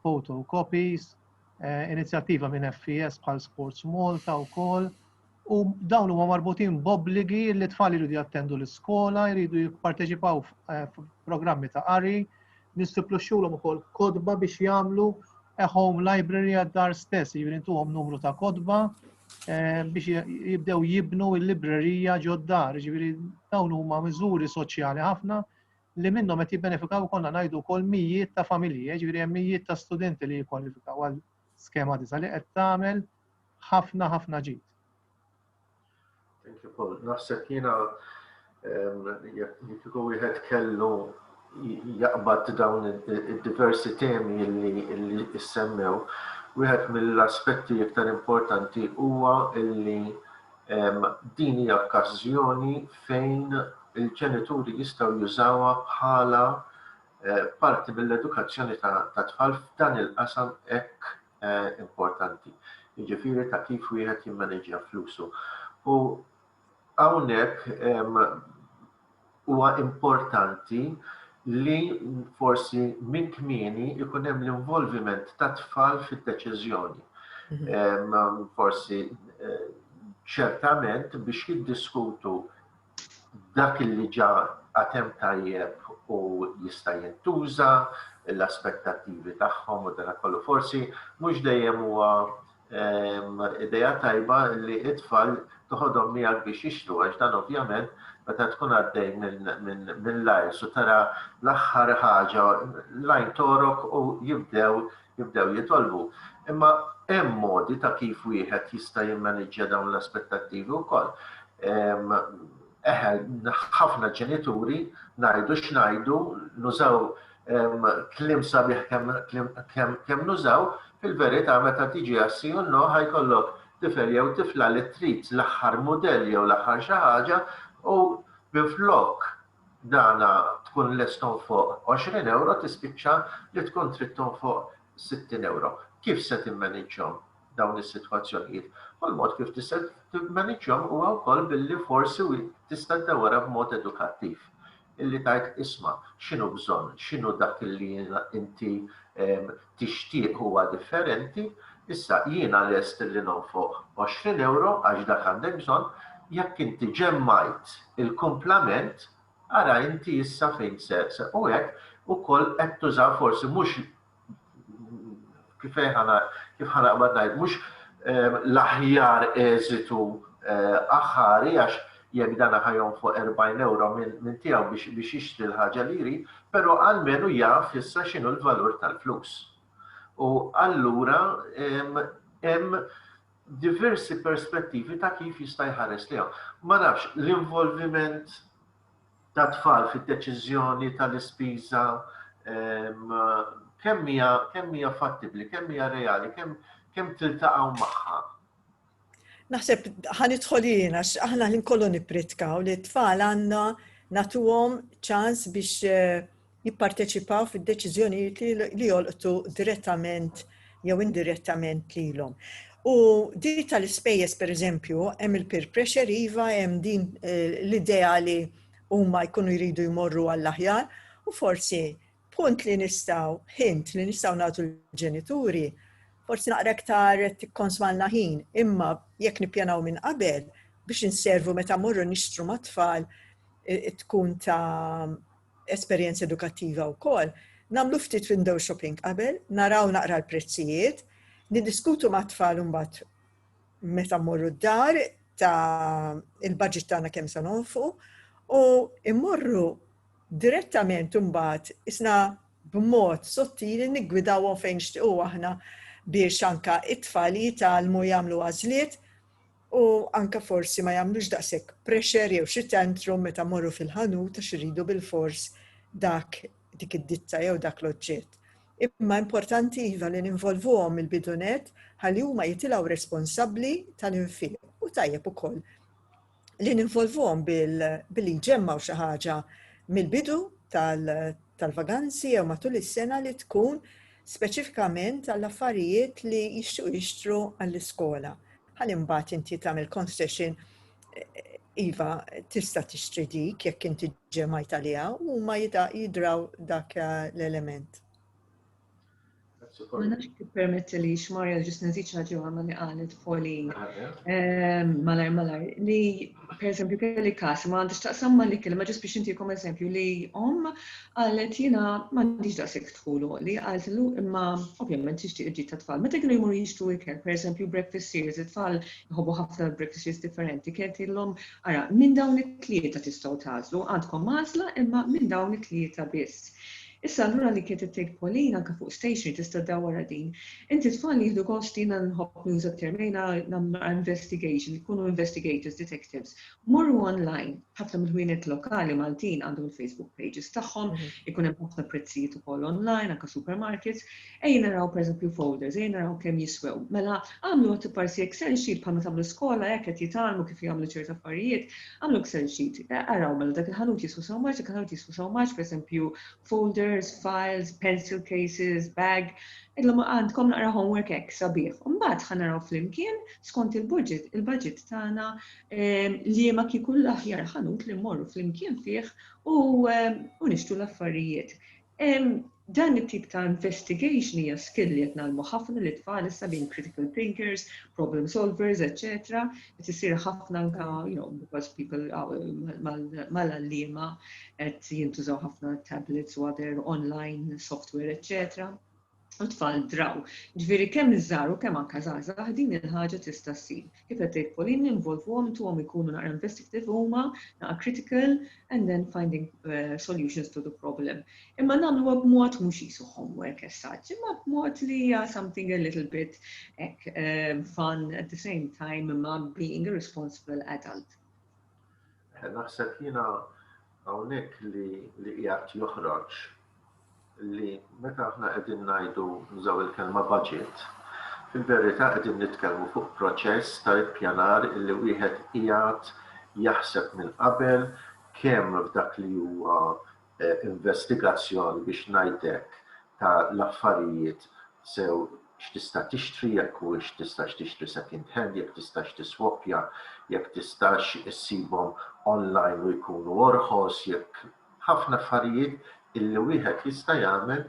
photocopies, eh, inizjattiva minn FES bħal Sports Malta wkoll u dawn huma marbutin b'obbligi li tfal jridu jattendu l-iskola, jridu jipparteċipaw f'programmi ta' qari, nistipluxxulhom ukoll kodba biex jagħmlu a home library għad-dar stess, jiġifieri ntuhom numru ta' kodba eh, biex jibdew jibnu l-librerija ġod-dar, jiġifieri dawn huma miżuri soċjali ħafna li minnhom qed jibbenefikaw konna ngħidu wkoll mijiet ta' familji, jiġifieri hemm mijiet ta' studenti li jikkwalifikaw għal skema disa li qed tagħmel ħafna ħafna ġid. Thank you Paul. Naħseb jiena jekk wieħed kellu jaqbad dawn id-diversi temi li issemmew, wieħed mill-aspetti iktar importanti huwa illi din hija okkażjoni fejn il-ġenituri jistgħu jużawha bħala eh, parti mill-edukazzjoni ta' tfal f'dan il-qasam hekk importanti, jiġifieri ta' kif wieħed jimmaneġġja flusu. U hawnhekk huwa importanti li forsi minn kmieni ikun hemm l-involviment ta' tfal fid-deċiżjoni. Mhm. Forsi eh, ċertament biex jiddiskutu dak li ġa għad hemm tajjeb u jista' jintuża, l-aspettattivi tagħhom u dan kollu. Forsi mhux dejjem huwa ehm, idea tajba li it-tfal toħodhom miegħek biex jixtru għax dan ovvjament meta tkun għaddej minn lajrs u tara l-aħħar ħaġa lajn torok u jibdew jibdew jitolbu. Imma hemm modi ta' kif wieħed jista' jimmaniġġja dawn l-aspettattivi wkoll. Eħe, ħafna ġenituri ngħidu x'ngħidu, nużaw kliem sabiħ kemm nużaw, fil-verità meta tiġi għas-si u n-no ħa jkollok tifel jew tifla li trid l-aħħar mudell jew l-aħħar xi ħaġa u minflok dan tkun lest tonfoq għoxrin ewro tispiċċa li tkun trid tonfoq sittin ewro. Kif se timmaniġġhom dawn is-sitwazzjonijiet? U l-mod kif tista' timmaniġġhom huwa wkoll billi forsi tista' ddewwarha b'mod edukattiv. Illi tgħid isma' x'inhu bżonn, x'inhu dak li inti tixtieq huwa differenti, issa jiena lest li nonfoq għoxrin ewro għax dak għandek bżonn, jekk inti ġemmajt il-kumplament ara inti issa fejn se u hekk ukoll qed tuża forsi mhux kif ħa naqbad ngħid mhux l-aħjar eżitu aħħari għax jekk dan ħa jonfoq 40 ewro minn tiegħu biex jixtri l-ħaġa li jrid, però almenu jaf issa x'inhu l-valur tal-flus. U allura hemm diversi perspettivi ta' kif jista' jħares lejhom. Ma nafx, l-involviment ta' tfal fid-deċiżjoni tal-ispiża kemm hija fattibbli, kemm hija reali, kemm tiltaqgħu magħha. Naħseb ħanidħol jien għax aħna ħin kollu nippritkaw li t-tfal għandna natuhom ċans biex eh, jipparteċipaw fid-deċiżjonijiet li jolqtu direttament jew indirettament lilhom. U di tal-ispejjeż pereżempju hemm il-peer pressure iva hemm din eh, l-idea li huma jkunu jridu jmorru għall-aħjar u forsi Punt li nistgħu, hint li nistgħu nagħtu l-ġenituri, forsi naqra iktar tikkonsmalna ħin, imma jekk nippjanaw minn qabel biex inservu meta morru nixtru mat-tfal tkun ta' esperjenza edukattiva wkoll, nagħmlu ftit window shopping qabel, naraw naqra l-prezzijiet, niddiskutu mat-tfal imbagħad meta mmorru d-dar ta' il-budget tagħna kemm se nonfqu u immorru Direttament imbagħad isna b'mod sottili niggwidawhom fejn nixtiequ aħna biex anke t-tfal jitgħallmu jagħmlu għażliet u anke forsi ma jagħmlux daqshekk pressure jew xi tantrum meta mmorru fil-ħanut għax iridu bilfors dak dik id-ditta jew dak l-oġġett. Imma importanti iva li ninvolvuhom mill-bidu nett ħalli huma jitilgħu responsabbli tal-infiq u tajjeb ukoll li ninvolvuhom billi nġemmaw xi ħaġa mill-bidu tal-vaganzi jew matul is-sena li tkun speċifikament għall-affarijiet li jixtiequ jixtru għall-iskola. Ħalli mbagħad inti tagħmel concession iva tista' tixtri dik jekk inti ġemajt għaliha u ma jidraw dak l-element. Ma nafx permetti li xmarja ġis nżid ħaġa ma li qalet poli ehm, malar malar li per eżempju kelli kas ma għandix taqsam ma li kelma ġis biex intikom eżempju li om qalet jiena ma għandix daqshekk tħulu li qalet lu imma ovvjament tixtieq ġid ta' tfal. Meta kienu jmur jixtu ikel, per eżempju breakfast series, it-tfal jħobbu ħafna breakfast series differenti, kienet illum ara minn dawn it-tlieta tistgħu tażlu, għandkom mażla imma minn dawn it-tlieta biss. Issa allura li kienet tgħid Pauline anke fuq stationery tista' ddawwarha din. Inti t-tfal jieħdu gost jiena nħobb nuża t-term jgħinha nagħmlu investigation ikunu investigators, detectives. Morru online, ħafna mill-ħwienet lokali Maltin għandhom il-Facebook pages tagħhom, ikun hemm ħafna prezzijiet ukoll online anke supermarkets. Ejja naraw pereżempju folders, ejja naraw kemm jiswew. Mela agħmlu għad iparsi Excel sheet bħal ma tagħmlu skola hekk qed jitgħallmu kif jagħmlu ċert affarijiet, agħmlu Excel sheet. Araw mela dak il-ħanut jiswa sew marġ, dak il-ħanut jiswa sew marġ, pereżempju folders, files, pencil cases, bag. Illum għandkom naqra homework hekk sabiħ. Mbagħad ħa naraw flimkien skont il-budget, il-budget tagħna ehm, li ma kieku l-aħjar ħanut li mmorru flimkien fih u ehm, nixtru l-affarijiet. Dan it-tip ta' investigation hija skill li qed ngħallmu ħafna lit-tfal issa being critical thinkers, problem solvers, eċċetera. Qed isir ħafna anke you know because people mal-għalliema qed jintużaw ħafna tablets u other online software eċċetera. u tfal draw. Ġifieri kemm iż-żgħar u kemm anke żgħażagħ din il-ħaġa tista' ssir. Kif qed tgħid Pauline involvuhom intuhom ikunu naqra investigative huma, naqra critical and then finding solutions to the problem. Imma nagħmluha b'mod mhux qisu homework as such, imma b'mod li hija something a little bit hekk fun at the same time imma being a responsible adult. Naħseb jiena hawnhekk li li qiegħed joħroġ li meta aħna qegħdin ngħidu nużaw il-kelma budget, fil-verità qegħdin nitkellmu fuq proċess ta' ippjanar illi wieħed qiegħed jaħseb minn qabel kemm f'dak li huwa investigazzjoni biex ngħid hekk ta' l-affarijiet sew x'tista' tixtri jekk huwiex tistax tixtri second hand, jekk tistax tiswappja, jekk tistax issibhom online u jkunu orħos, jekk ħafna affarijiet illi wieħed jista' jagħmel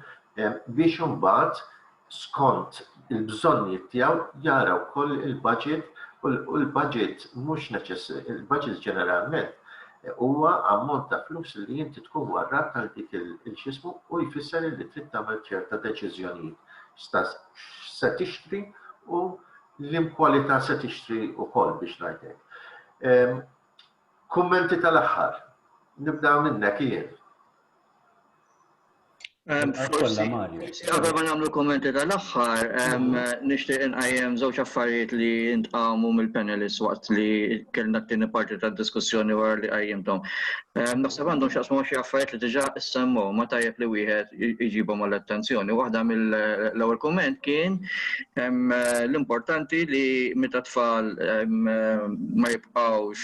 biex imbagħad skont il-bżonnijiet tiegħu jara wkoll il-baġit u l-baġit mhux il-baġit ġeneralment huwa ammont ta' flus li inti tkun warrab għal dik il-xismu u jfisser li trid tagħmel ċerta deċiżjonijiet x'se tixtri u l-imkwalità se tixtri wkoll biex ngħid hekk. Kummenti tal-aħħar. Nibda minnek jien. Kolla Mario. Qabel ma nagħmlu kummenti tal-aħħar, nixtieq inqajjem żewġ affarijiet li ntqamu mill-panelists waqt li kellna t-tieni parti tad-diskussjoni wara li qajjimthom. Naħseb għandhom x'jaqsmu xi affarijiet li diġà issemmew ma tajjeb li wieħed iġibhom għall-attenzjoni. Waħda mill-ewwel kumment kien L-importanti li meta tfal ma jibqgħux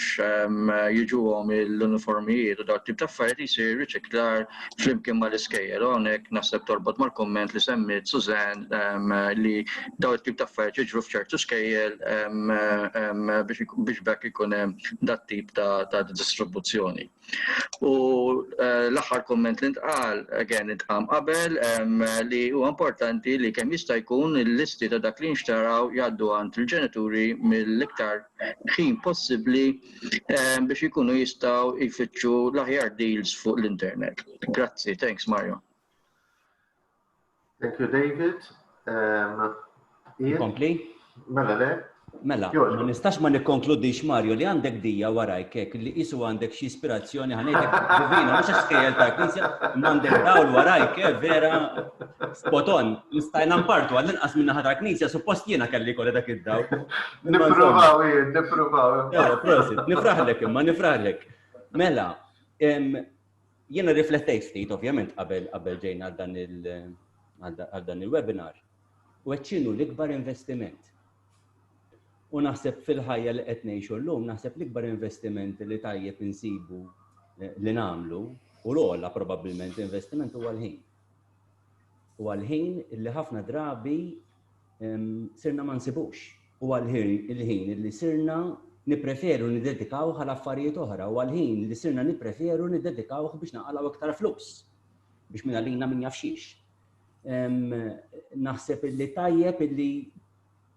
jiġuhom l-uniformijiet u dawn it-tip ta' affarijiet isir riċiklar flimkien mal-iskejjel. Hawnhekk naħseb torbot mal-kumment li semmiet Suzanne li dawn it-tip ta' affarijiet jiġru f'ċertu skejjel biex b'hekk ikun hemm dat-tip ta' distribuzzjoni. U l-aħħar komment li ntqal, again intqam qabel, li huwa importanti li kemm jista' jkun il-listi ta' dak li nxtaraw jgħaddu għand il-ġenituri mill-iktar ħin possibbli biex ikunu jistgħu jfittxu l-aħjar deals fuq l-internet. Grazzi, thanks Mario. Thank you, David. Kompli? Mela, le? Mela, ma nistax ma nikkonkludix Mario li għandek dija warajk hekk li isu għandek xi ispirazzjoni ħanejtek divina mhux għax kejjel ta' knisja m'għandek dawl warajk eh, vera spoton nistajna mpartu għal inqas minn naħa ta' knisja suppost jiena kelli kolli dak id-dawl. Nippruvaw jien, nippruvaw. Prosit, nifraħlek imma nifraħlek. Mela, Jiena riflettejt ftit, ovvjament, qabel qabel ġejna għal dan il-webinar. U qed x'inhu l-ikbar investiment. U naħseb fil-ħajja li qed ngħixu llum, naħseb l-ikbar investiment li tajjeb insibu li nagħmlu u l-ogħla probabbilment investiment huwa l-ħin. Huwa l-ħin li ħafna drabi sirna ma nsibux. Huwa l-ħin li sirna nippreferu niddedikawh għal affarijiet oħra, huwa l-ħin li sirna nippreferu niddedikawh biex naqalgħu iktar flus, biex minn għalina min jaf xiex. Naħseb illi tajjeb illi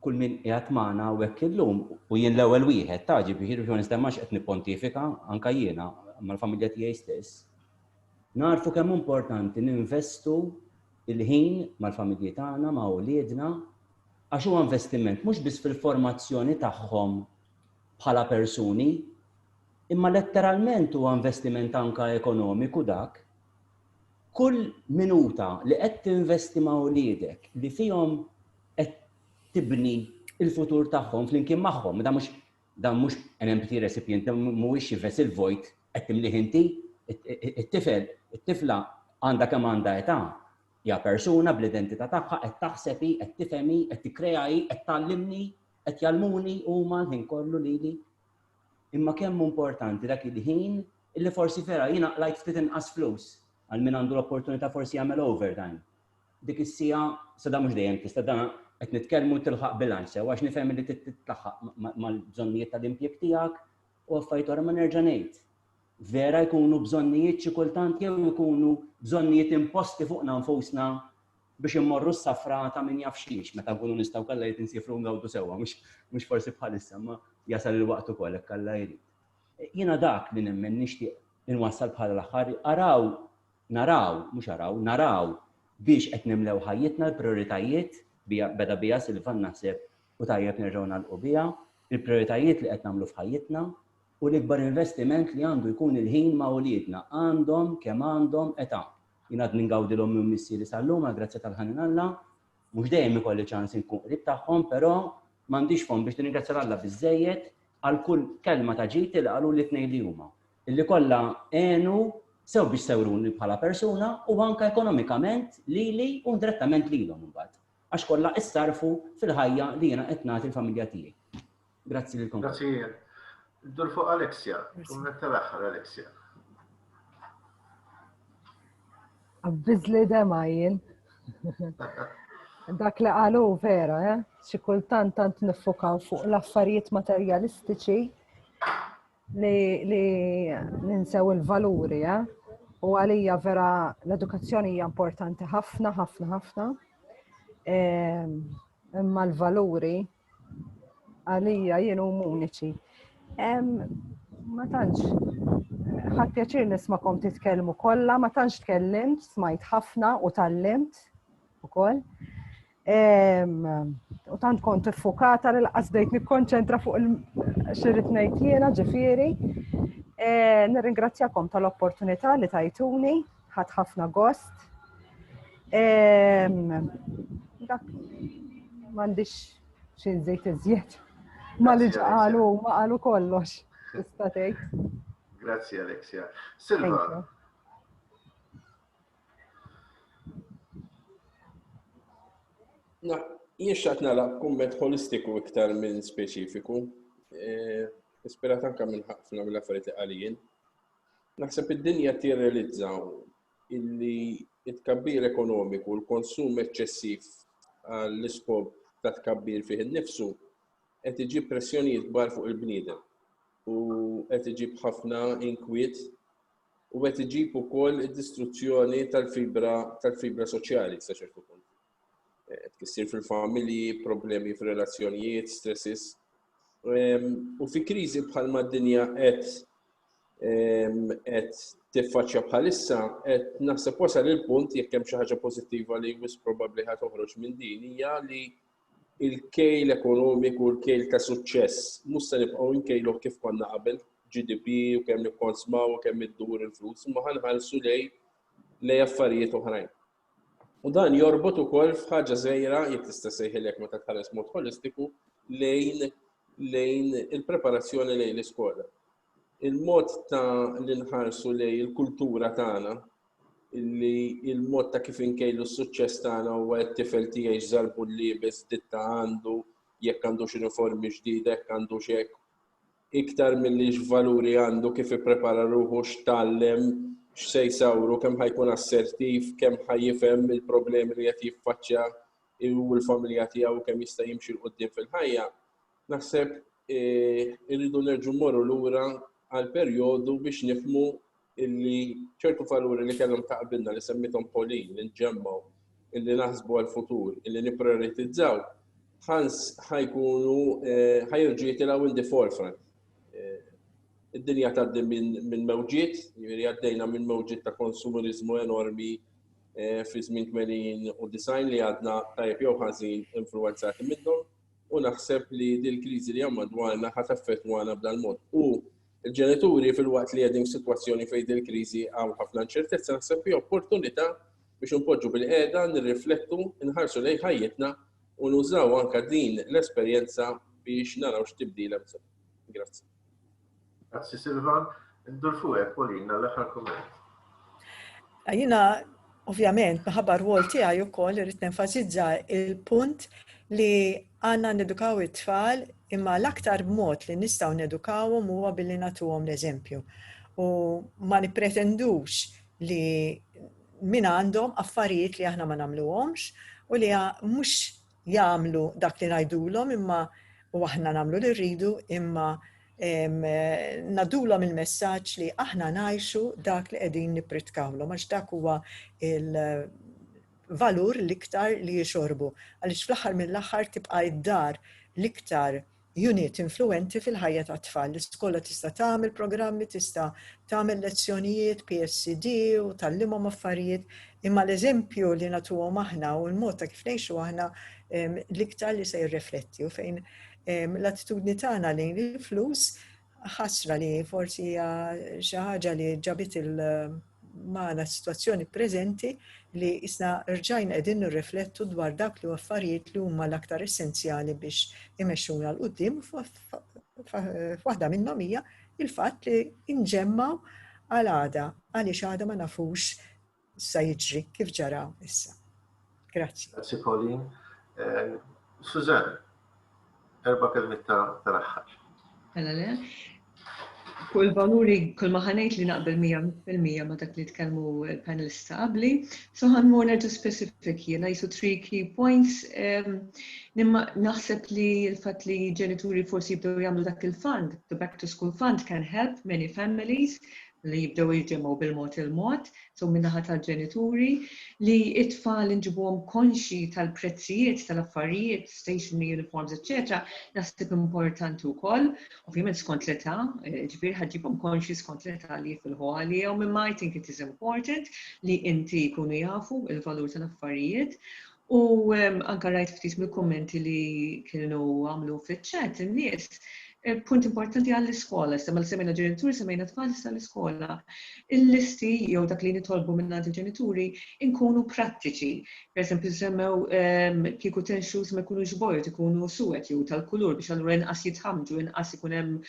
kull min qiegħed magħna hawnhekk illum u jien l-ewwel wieħed ta' ġifieri biex ma nistemmax qed nippontifika anke jiena mal-familja tiegħi stess. Narfu kemm importanti ninvestu il-ħin mal-familji tagħna, ma' uliedna, għax huwa investiment mhux biss fil-formazzjoni tagħhom bħala persuni, imma letteralment huwa investiment anke ekonomiku dak. Kull minuta li qed tinvesti ma' uliedek li fihom qed tibni l-futur tagħhom flimkien magħhom, dan mhux Dan mhux an empty recipient, dan mhuwiex xi vessel vojt, qed timlih inti. It-tifel, it-tifla għandha kemm għandha età, hija persuna bl-identità tagħha, qed taħseb hi, qed tifhem hi, qed tikkrea hi, qed tgħallimni, qed jgħallmuni huma l-ħin kollu lili. Imma kemm hu importanti dak il-ħin illi forsi vera jiena qlajt ftit inqas flus għal min għandu l-opportunità forsi jagħmel overtime. Dik is-siegħa, sada mhux dejjem tista' dan qed nitkellmu tilħaq bilanċ sew għax nifhem li titlaħħaq mal-bżonnijiet tal-impjieg tiegħek u affarijiet oħra ma nerġa' ngħid. Vera jkunu bżonnijiet xi kultant jew ikunu bżonnijiet imposti fuqna nfusna biex immorru s-safra ta' min jaf xiex meta nkunu nistgħu kollha jrid insifru ngawdu sewwa mhux forsi bħalissa ma jasal il-waqt ukoll hekk Alla jrid. Jiena dak li nemmen nixtieq inwassal bħala l-aħħar araw Naraw, mhux araw, naraw biex qed nimlew ħajjitna l-prijoritajiet, beda biha Silvan naħseb u tajjeb nerġgħu nagħlqu biha, il-prijoritajiet li qed nagħmlu f'ħajjitna u l-ikbar investiment li għandu jkun il-ħin ma' uliedna, għandhom kemm għandhom età. Jien għadni ngawdi l-ommi u missieri sal-lum għall-grazzja tal-ħanin Alla, mhux dejjem ikolli ċans inkun qrib tagħhom però m'għandix fomm biex nirringrazzja 'l Alla biżżejjed għal kull kelma ta' ġid li qaluli t-tnejn li huma. li kollha għenu sew biex sewruni bħala persuna u anke ekonomikament lili u indirettament lilhom imbagħad, għax kollha issarrfu fil-ħajja li jiena qed nagħti l-familja tiegħi. Grazzi lilkom. Grazzi jien. Dur fuq Alexia, kumment tal-aħħar Alexia. Bizzli dema jien. Dak li għalu vera, eh? xikultant tant nifokaw fuq l-affarijiet materjalistiċi li ninsew il-valuri, eh? u għalija vera l-edukazzjoni hija importanti ħafna, ħafna, ħafna. Ehm, imma l-valuri għalija jienu uniċi. Ehm, ma tantx, ħadd pjaċir nismakom titkellmu kollha, ma tantx tkellimt, smajt ħafna u tallimt ukoll. U tant kont iffukata li laqas bdejt nikkonċentra fuq il-xirrit ngħid jiena ġifieri. E, nirringrazzjakom tal-opportunità li tajtuni, ħadd ħafna gost. E, dak m'għandix xi żejt iżjed. Ma li ġqalu, ma qalu kollox. Tista' tgħid. Grazzi Alexia. Silva, Na, jien xaqt nara kumment holistiku iktar minn speċifiku, e, ispirat anka minn ħafna minn affarijiet li għalijin. Naħseb id-dinja tirrealizza illi it-kabbir ekonomiku, l-konsum eċċessiv għall-iskop ta' tkabbir fih innifsu qed iġib pressjonijiet kbar fuq il-bniedem u qed iġib ħafna inkwiet u qed iġib ukoll id-distruzzjoni tal-fibra tal-fibra soċjali sa ċertu punt. Eh, tkissir fil-familji, problemi fir-relazzjonijiet, stresses. Ehm, u fi kriżi bħal mad-dinja qed ehm, qed tiffaċċja bħalissa qed naħseb wasal il-punt jekk hemm xi ħaġa pożittiva li wis probabbli ħad toħroġ minn din hija li il-kejl ekonomiku u l-kejl ta' suċċess mhux se nibqgħu nkejluh kif konna qabel, GDP u kemm nikkonsmaw u kemm iddur il-flus, imma ħanħarsu lej lej affarijiet oħrajn. U dan jorbot ukoll f'ħaġa żgħira jekk tista' sejħilek meta tħares mod holistiku lejn lejn il-preparazzjoni lejn l-iskola. il-mod ta' li nħarsu lej il-kultura tagħna, illi il-mod ta' kif inkejlu s-suċċess tagħna huwa jekk tifel tiegħi x'żarbun liebes, ditta għandu, jekk għandux uniformi ġdida, jekk għandux hekk, iktar milli x'valuri għandu, kif ipprepara ruħu, x'tgħallem, x'se jsawru, kemm ħa jkun assertiv, kemm ħa jifhem il-problemi li qed jiffaċċja hu u l-familja tiegħu kemm jista' jimxi 'l quddiem fil-ħajja, Naħseb irridu nerġu morru lura għal perjodu biex nifmu illi ċertu valuri li kellhom taqbilna li semmitom Polin, li nġemmaw, illi naħsbu għal-futur, illi niprioritizzaw, ħans ħajkunu ħajrġu jitilaw in the forefront. Id-dinja tgħaddi minn mewġiet, jiġifieri għaddejna minn mewġiet ta' konsumerizmu enormi fi żmien 80 u 90 li għadna tajjeb jew ħażin influwenzati minnhom. u naħseb li din kriżi li hemm madwarna ħadd effettwana b'dan mod. U l-ġenituri fil-waqt li qegħdin f'sitwazzjoni fejn din kriżi hawn ħafna inċertezza naħseb fi opportunità biex inpoġġu bil-qiegħda nirriflettu, nħarsu lejn ħajjitna u nużaw anke din l-esperjenza biex naraw x'tibdil hemm bżonn. Grazzi. Grazzi Silvan. Ndur fuqek, Pauline, għall-aħħar kumment. Jina, ovvjament, minħabba rwol tiegħi wkoll irid nenfasizza il-punt li għandna nedukaw it-tfal imma l-aktar b'mod li nistgħu nedukawhom huwa billi nagħtuhom l-eżempju. U ma nippretendux li min għandhom affarijiet li aħna ma nagħmluhomx u li mhux jagħmlu dak li ngħidulhom imma u aħna nagħmlu li rridu imma nadulhom il-messaġġ li aħna ngħixu dak li qegħdin nippritkawlhom għax dak huwa il-valur l-iktar li jixorbu. Għaliex fl-aħħar mill-aħħar tibqa' id-dar l-iktar Unit influwenti fil-ħajja tat-tfal. L-iskola tista' tagħmel programmi, tista' tagħmel lezzjonijiet, PSD, u tgħallimhom affarijiet, imma l-eżempju li nagħtuhom aħna u l-mod ta' kif ngħixu aħna l-iktar li se jirrefletti u fejn l-attitudni tagħna lejn il-flus ħasra li forsi hija xi ħaġa li ġabit il- magħna s-sitwazzjoni preżenti li isna rġajna qegħdin nirriflettu dwar dak li affarijiet li huma l-aktar essenzjali biex imexxuna l qudiem waħda minnhom hija il-fatt li nġemmaw għal għada għaliex għada ma nafux sa jiġri kif ġara issa. Grazzi. Grazzi Pauline. Eh, Suzanne, erba' kelmiet tal-aħħar. Mela le. Fuq il-valuri kull ma ħanejt li naqbel 100% ma dak li tkellmu l-panelist ta' qabli. So ħanmur nerġa' specific jiena jisu three key points. Ehm, nimma naħseb li l-fatt li ġenituri forsi jibdew jagħmlu dak il-fund, the back to school fund can help many families li jibdew jiġemgħu bil-mod il-mod, so min-naħa tal-ġenituri, li t-tfal inġibuhom konxji tal-prezzijiet tal-affarijiet, stationery, uniforms, eċċetera naħseb importanti wkoll, ovvjament skont l-età, jiġifieri ħa ġġibhom konxji skont l-età li jifilħu għalihom, imma I think it is important li inti jkunu jafu l-valur tal-affarijiet U anke rajt ftit mill-kummenti li kienu għamlu fiċ-chat in-nies, punt importanti għall-iskola, issa mela semmejna ġenituri, semmejna tfal issa l-iskola. Il-listi jew dak li nitolbu minn għand il-ġenituri nkunu prattiċi. Per eżempju semmew kieku tenxus ma jkunux bojod, ikunu suwed jew tal-kulur biex allura inqas jitħammġu, inqas ikun hemm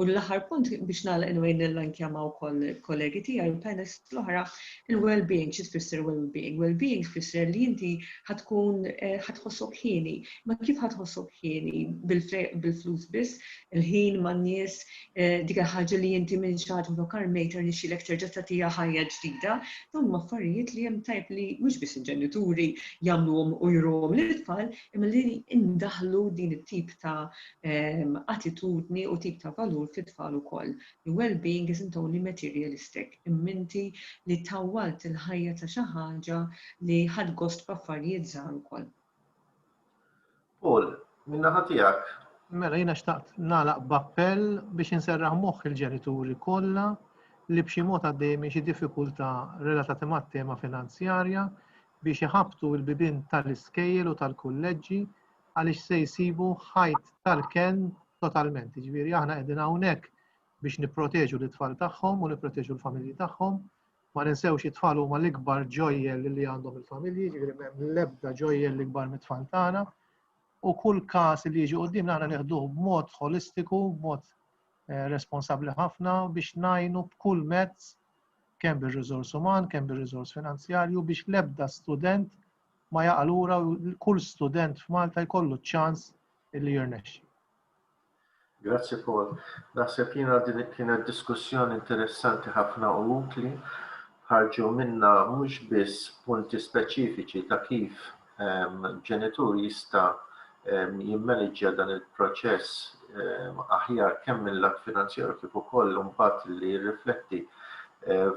U l-aħħar punt biex nagħlaq anyway nirrankjama wkoll kollegi tiegħi u panels l-oħra, il-well-being xi tfisser well-being? Well-being tfisser li inti ħad tkun eh, ħad tħossok ħieni. Ma kif ħad tħossok ħieni bil-flus biss, il-ħin man-nies, eh, dik il-ħaġa li inti minn xagħat u dokar mejter nixilek terġa' tagħtiha ħajja ġdida, dawn ma affarijiet li hemm tajb li mhux biss il-ġenituri jagħmluhom u jruhom lil tfal, imma li indaħlu din it-tip ta' attitudni u tip ta' valur fit-tfal ukoll. Li well-being isn't only materialistic, imminti li tawwalt il-ħajja ta' xi ħaġa li ħadt gost b'affarijiet żgħar ukoll. Paul, min-naħa tiegħek? Mela jiena xtaqt nagħlaq b'appell biex inserraħ moħħ il-ġenituri kollha li b'xi mod għaddejjin minn xi diffikultà relatati mat-tema finanzjarja biex iħabbtu l-bibien tal-iskejjel u tal-kulleġġi għaliex se jsibu ħajt tal-kenn totalment. Ġifieri aħna qegħdin hawnhekk biex nipproteġu l-itfal tagħhom u nipproteġu l-familji tagħhom. Ma ninsewx it-tfal huma l-ikbar ġojjel li għandhom il-familji, ġifieri m'hemm l-ebda ġojjel l-ikbar mit-tfal tagħna. U kull każ li jiġi qudiem aħna nieħduh b'mod holistiku, b'mod eh, responsabbli ħafna biex najnu b'kull mezz kemm bir-riżors uman, kemm bir-riżors finanzjarju biex l-ebda student ma jaqa' lura u kull student f'Malta jkollu ċ-ċans illi jirnexxi. Grazzi Paul. Naħseb jiena din kienet diskussjoni interessanti ħafna u utli. Ħarġu minna mhux biss punti speċifiċi ta' kif ehm, ġenitur jista' jimmaniġġja dan il-proċess aħjar kemm minn lat finanzjaru kif ukoll imbagħad li jirrifletti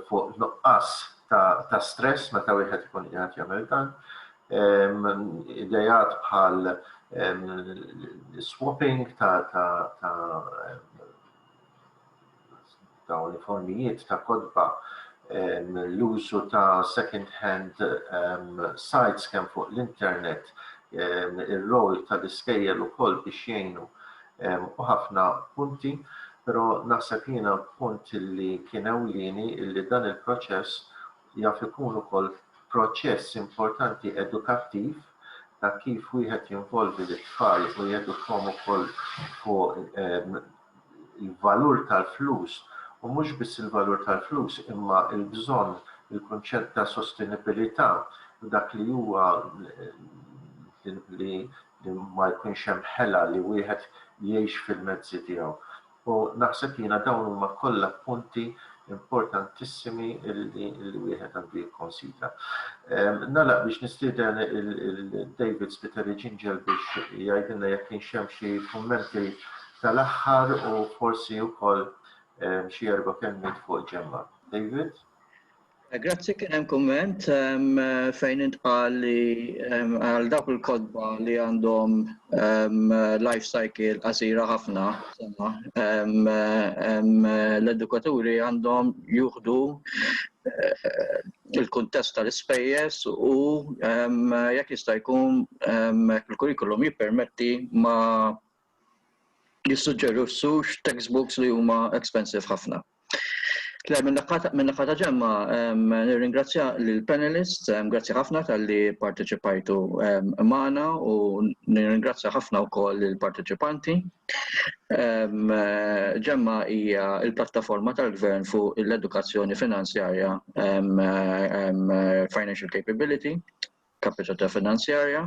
fuq nuqqas ta' stress meta wieħed ikun qiegħed jagħmel dan. Idejat bħal swapping ta' dawn il-formijiet ta' kotba l-użu ta' second hand sites kemm fuq l-internet ir-rol tal-iskejjel ukoll biex jgħinu u ħafna punti però naħseb jiena punt li kien ewlieni li dan il-proċess jaf ikun ukoll proċess importanti edukattiv ta' kif wieħed jinvolvi lit-tfal u jedukhom ukoll fuq il-valur tal-flus u mhux biss il-valur tal-flus imma l-bżonn, il-kunċett ta' sostenibilità u dak li huwa li ma jkunx hemm ħela li wieħed jgħix fil-mezzi tiegħu. U naħseb jiena dawn huma kollha punti importantissimi li wieħed għandu jikkonsidra. Nagħlaq biex nistieden il-David Spiteri Ġinġel biex jgħidilna jekk kienx hemm xi kummenti tal-aħħar u forsi wkoll xi erba' kelmiet fuq ġemma. David? Eh, grazzi kien hemm kumment fejn intqal li għal dawk il-kotba li għandhom life cycle qasira ħafna, l-edukaturi għandhom juħdu il-kuntest tal-ispejjeż u jekk jista' jkun il-kurrikulum jippermetti ma jissuġġerixxux textbooks li huma expensive ħafna. Le, minn naħa ta' ġemma, nirringrazzja l-panelist, grazzi ħafna tal-li parteċipajtu maħna u nirringrazzja ħafna u koll l-parteċipanti. Ġemma hija il-plattaforma tal-gvern fuq l-edukazzjoni finanzjarja Financial Capability Capacità Finanzjarja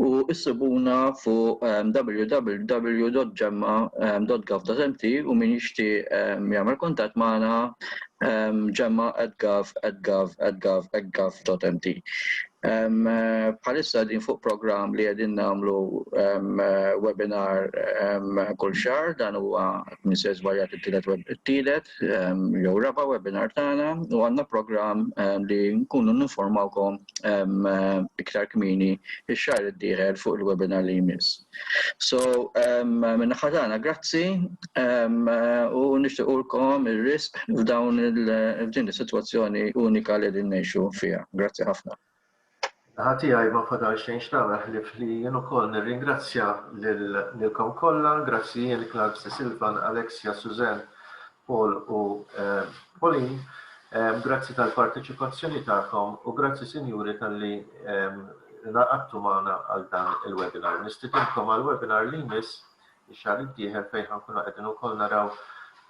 u issibuna fuq www.gemma.gov.mt u min jixtieq jagħmel kuntatt magħna gemma@gov.mt. Bħalissa qegħdin fuq programm li qegħdin nagħmlu webinar kull xahar, dan huwa min se jiżbalja it-tielet tliet jew raba' webinar tagħna u għandna programm li nkunu ninformawkom iktar kmieni x-xahar id-dieħel fuq il-webinar li jmiss. So, min-naħa tagħna grazzi u nixtiequlkom ir-risq f'dawn il-f'din is-sitwazzjoni unika li qegħdin ngħixu fiha. Grazzi ħafna. Min-naħa tiegħi ma fadal xejn x'nagħmel ħlief li jien ukoll nirringrazzja lilkom kollha. Grazzi Ian, Clark, Ste Silvan, Alexia, Suzanne, Paul u Pauline. Grazzi tal-parteċipazzjoni tagħkom u grazzi sinjuri talli ngħaqadtu magħna għal dan il-webinar. Nistidinkom għall-webinar li jmiss. ix-xahar id-dieħel fejn ħa nkunu qegħdin ukoll naraw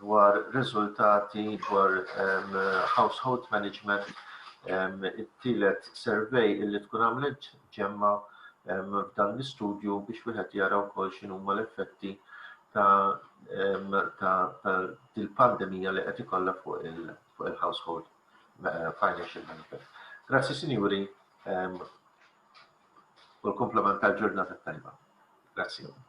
dwar riżultati dwar household management it-tielet survey illi tkun għamlet ġemma f'dan l-istudju biex wieħed jara wkoll x'inhuma l-effetti ta' dil-pandemija li qed ikollha fuq il-household eh, financial benefit. Grazzi sinjuri u l-komplement tal-ġurnata tajba. Grazzi.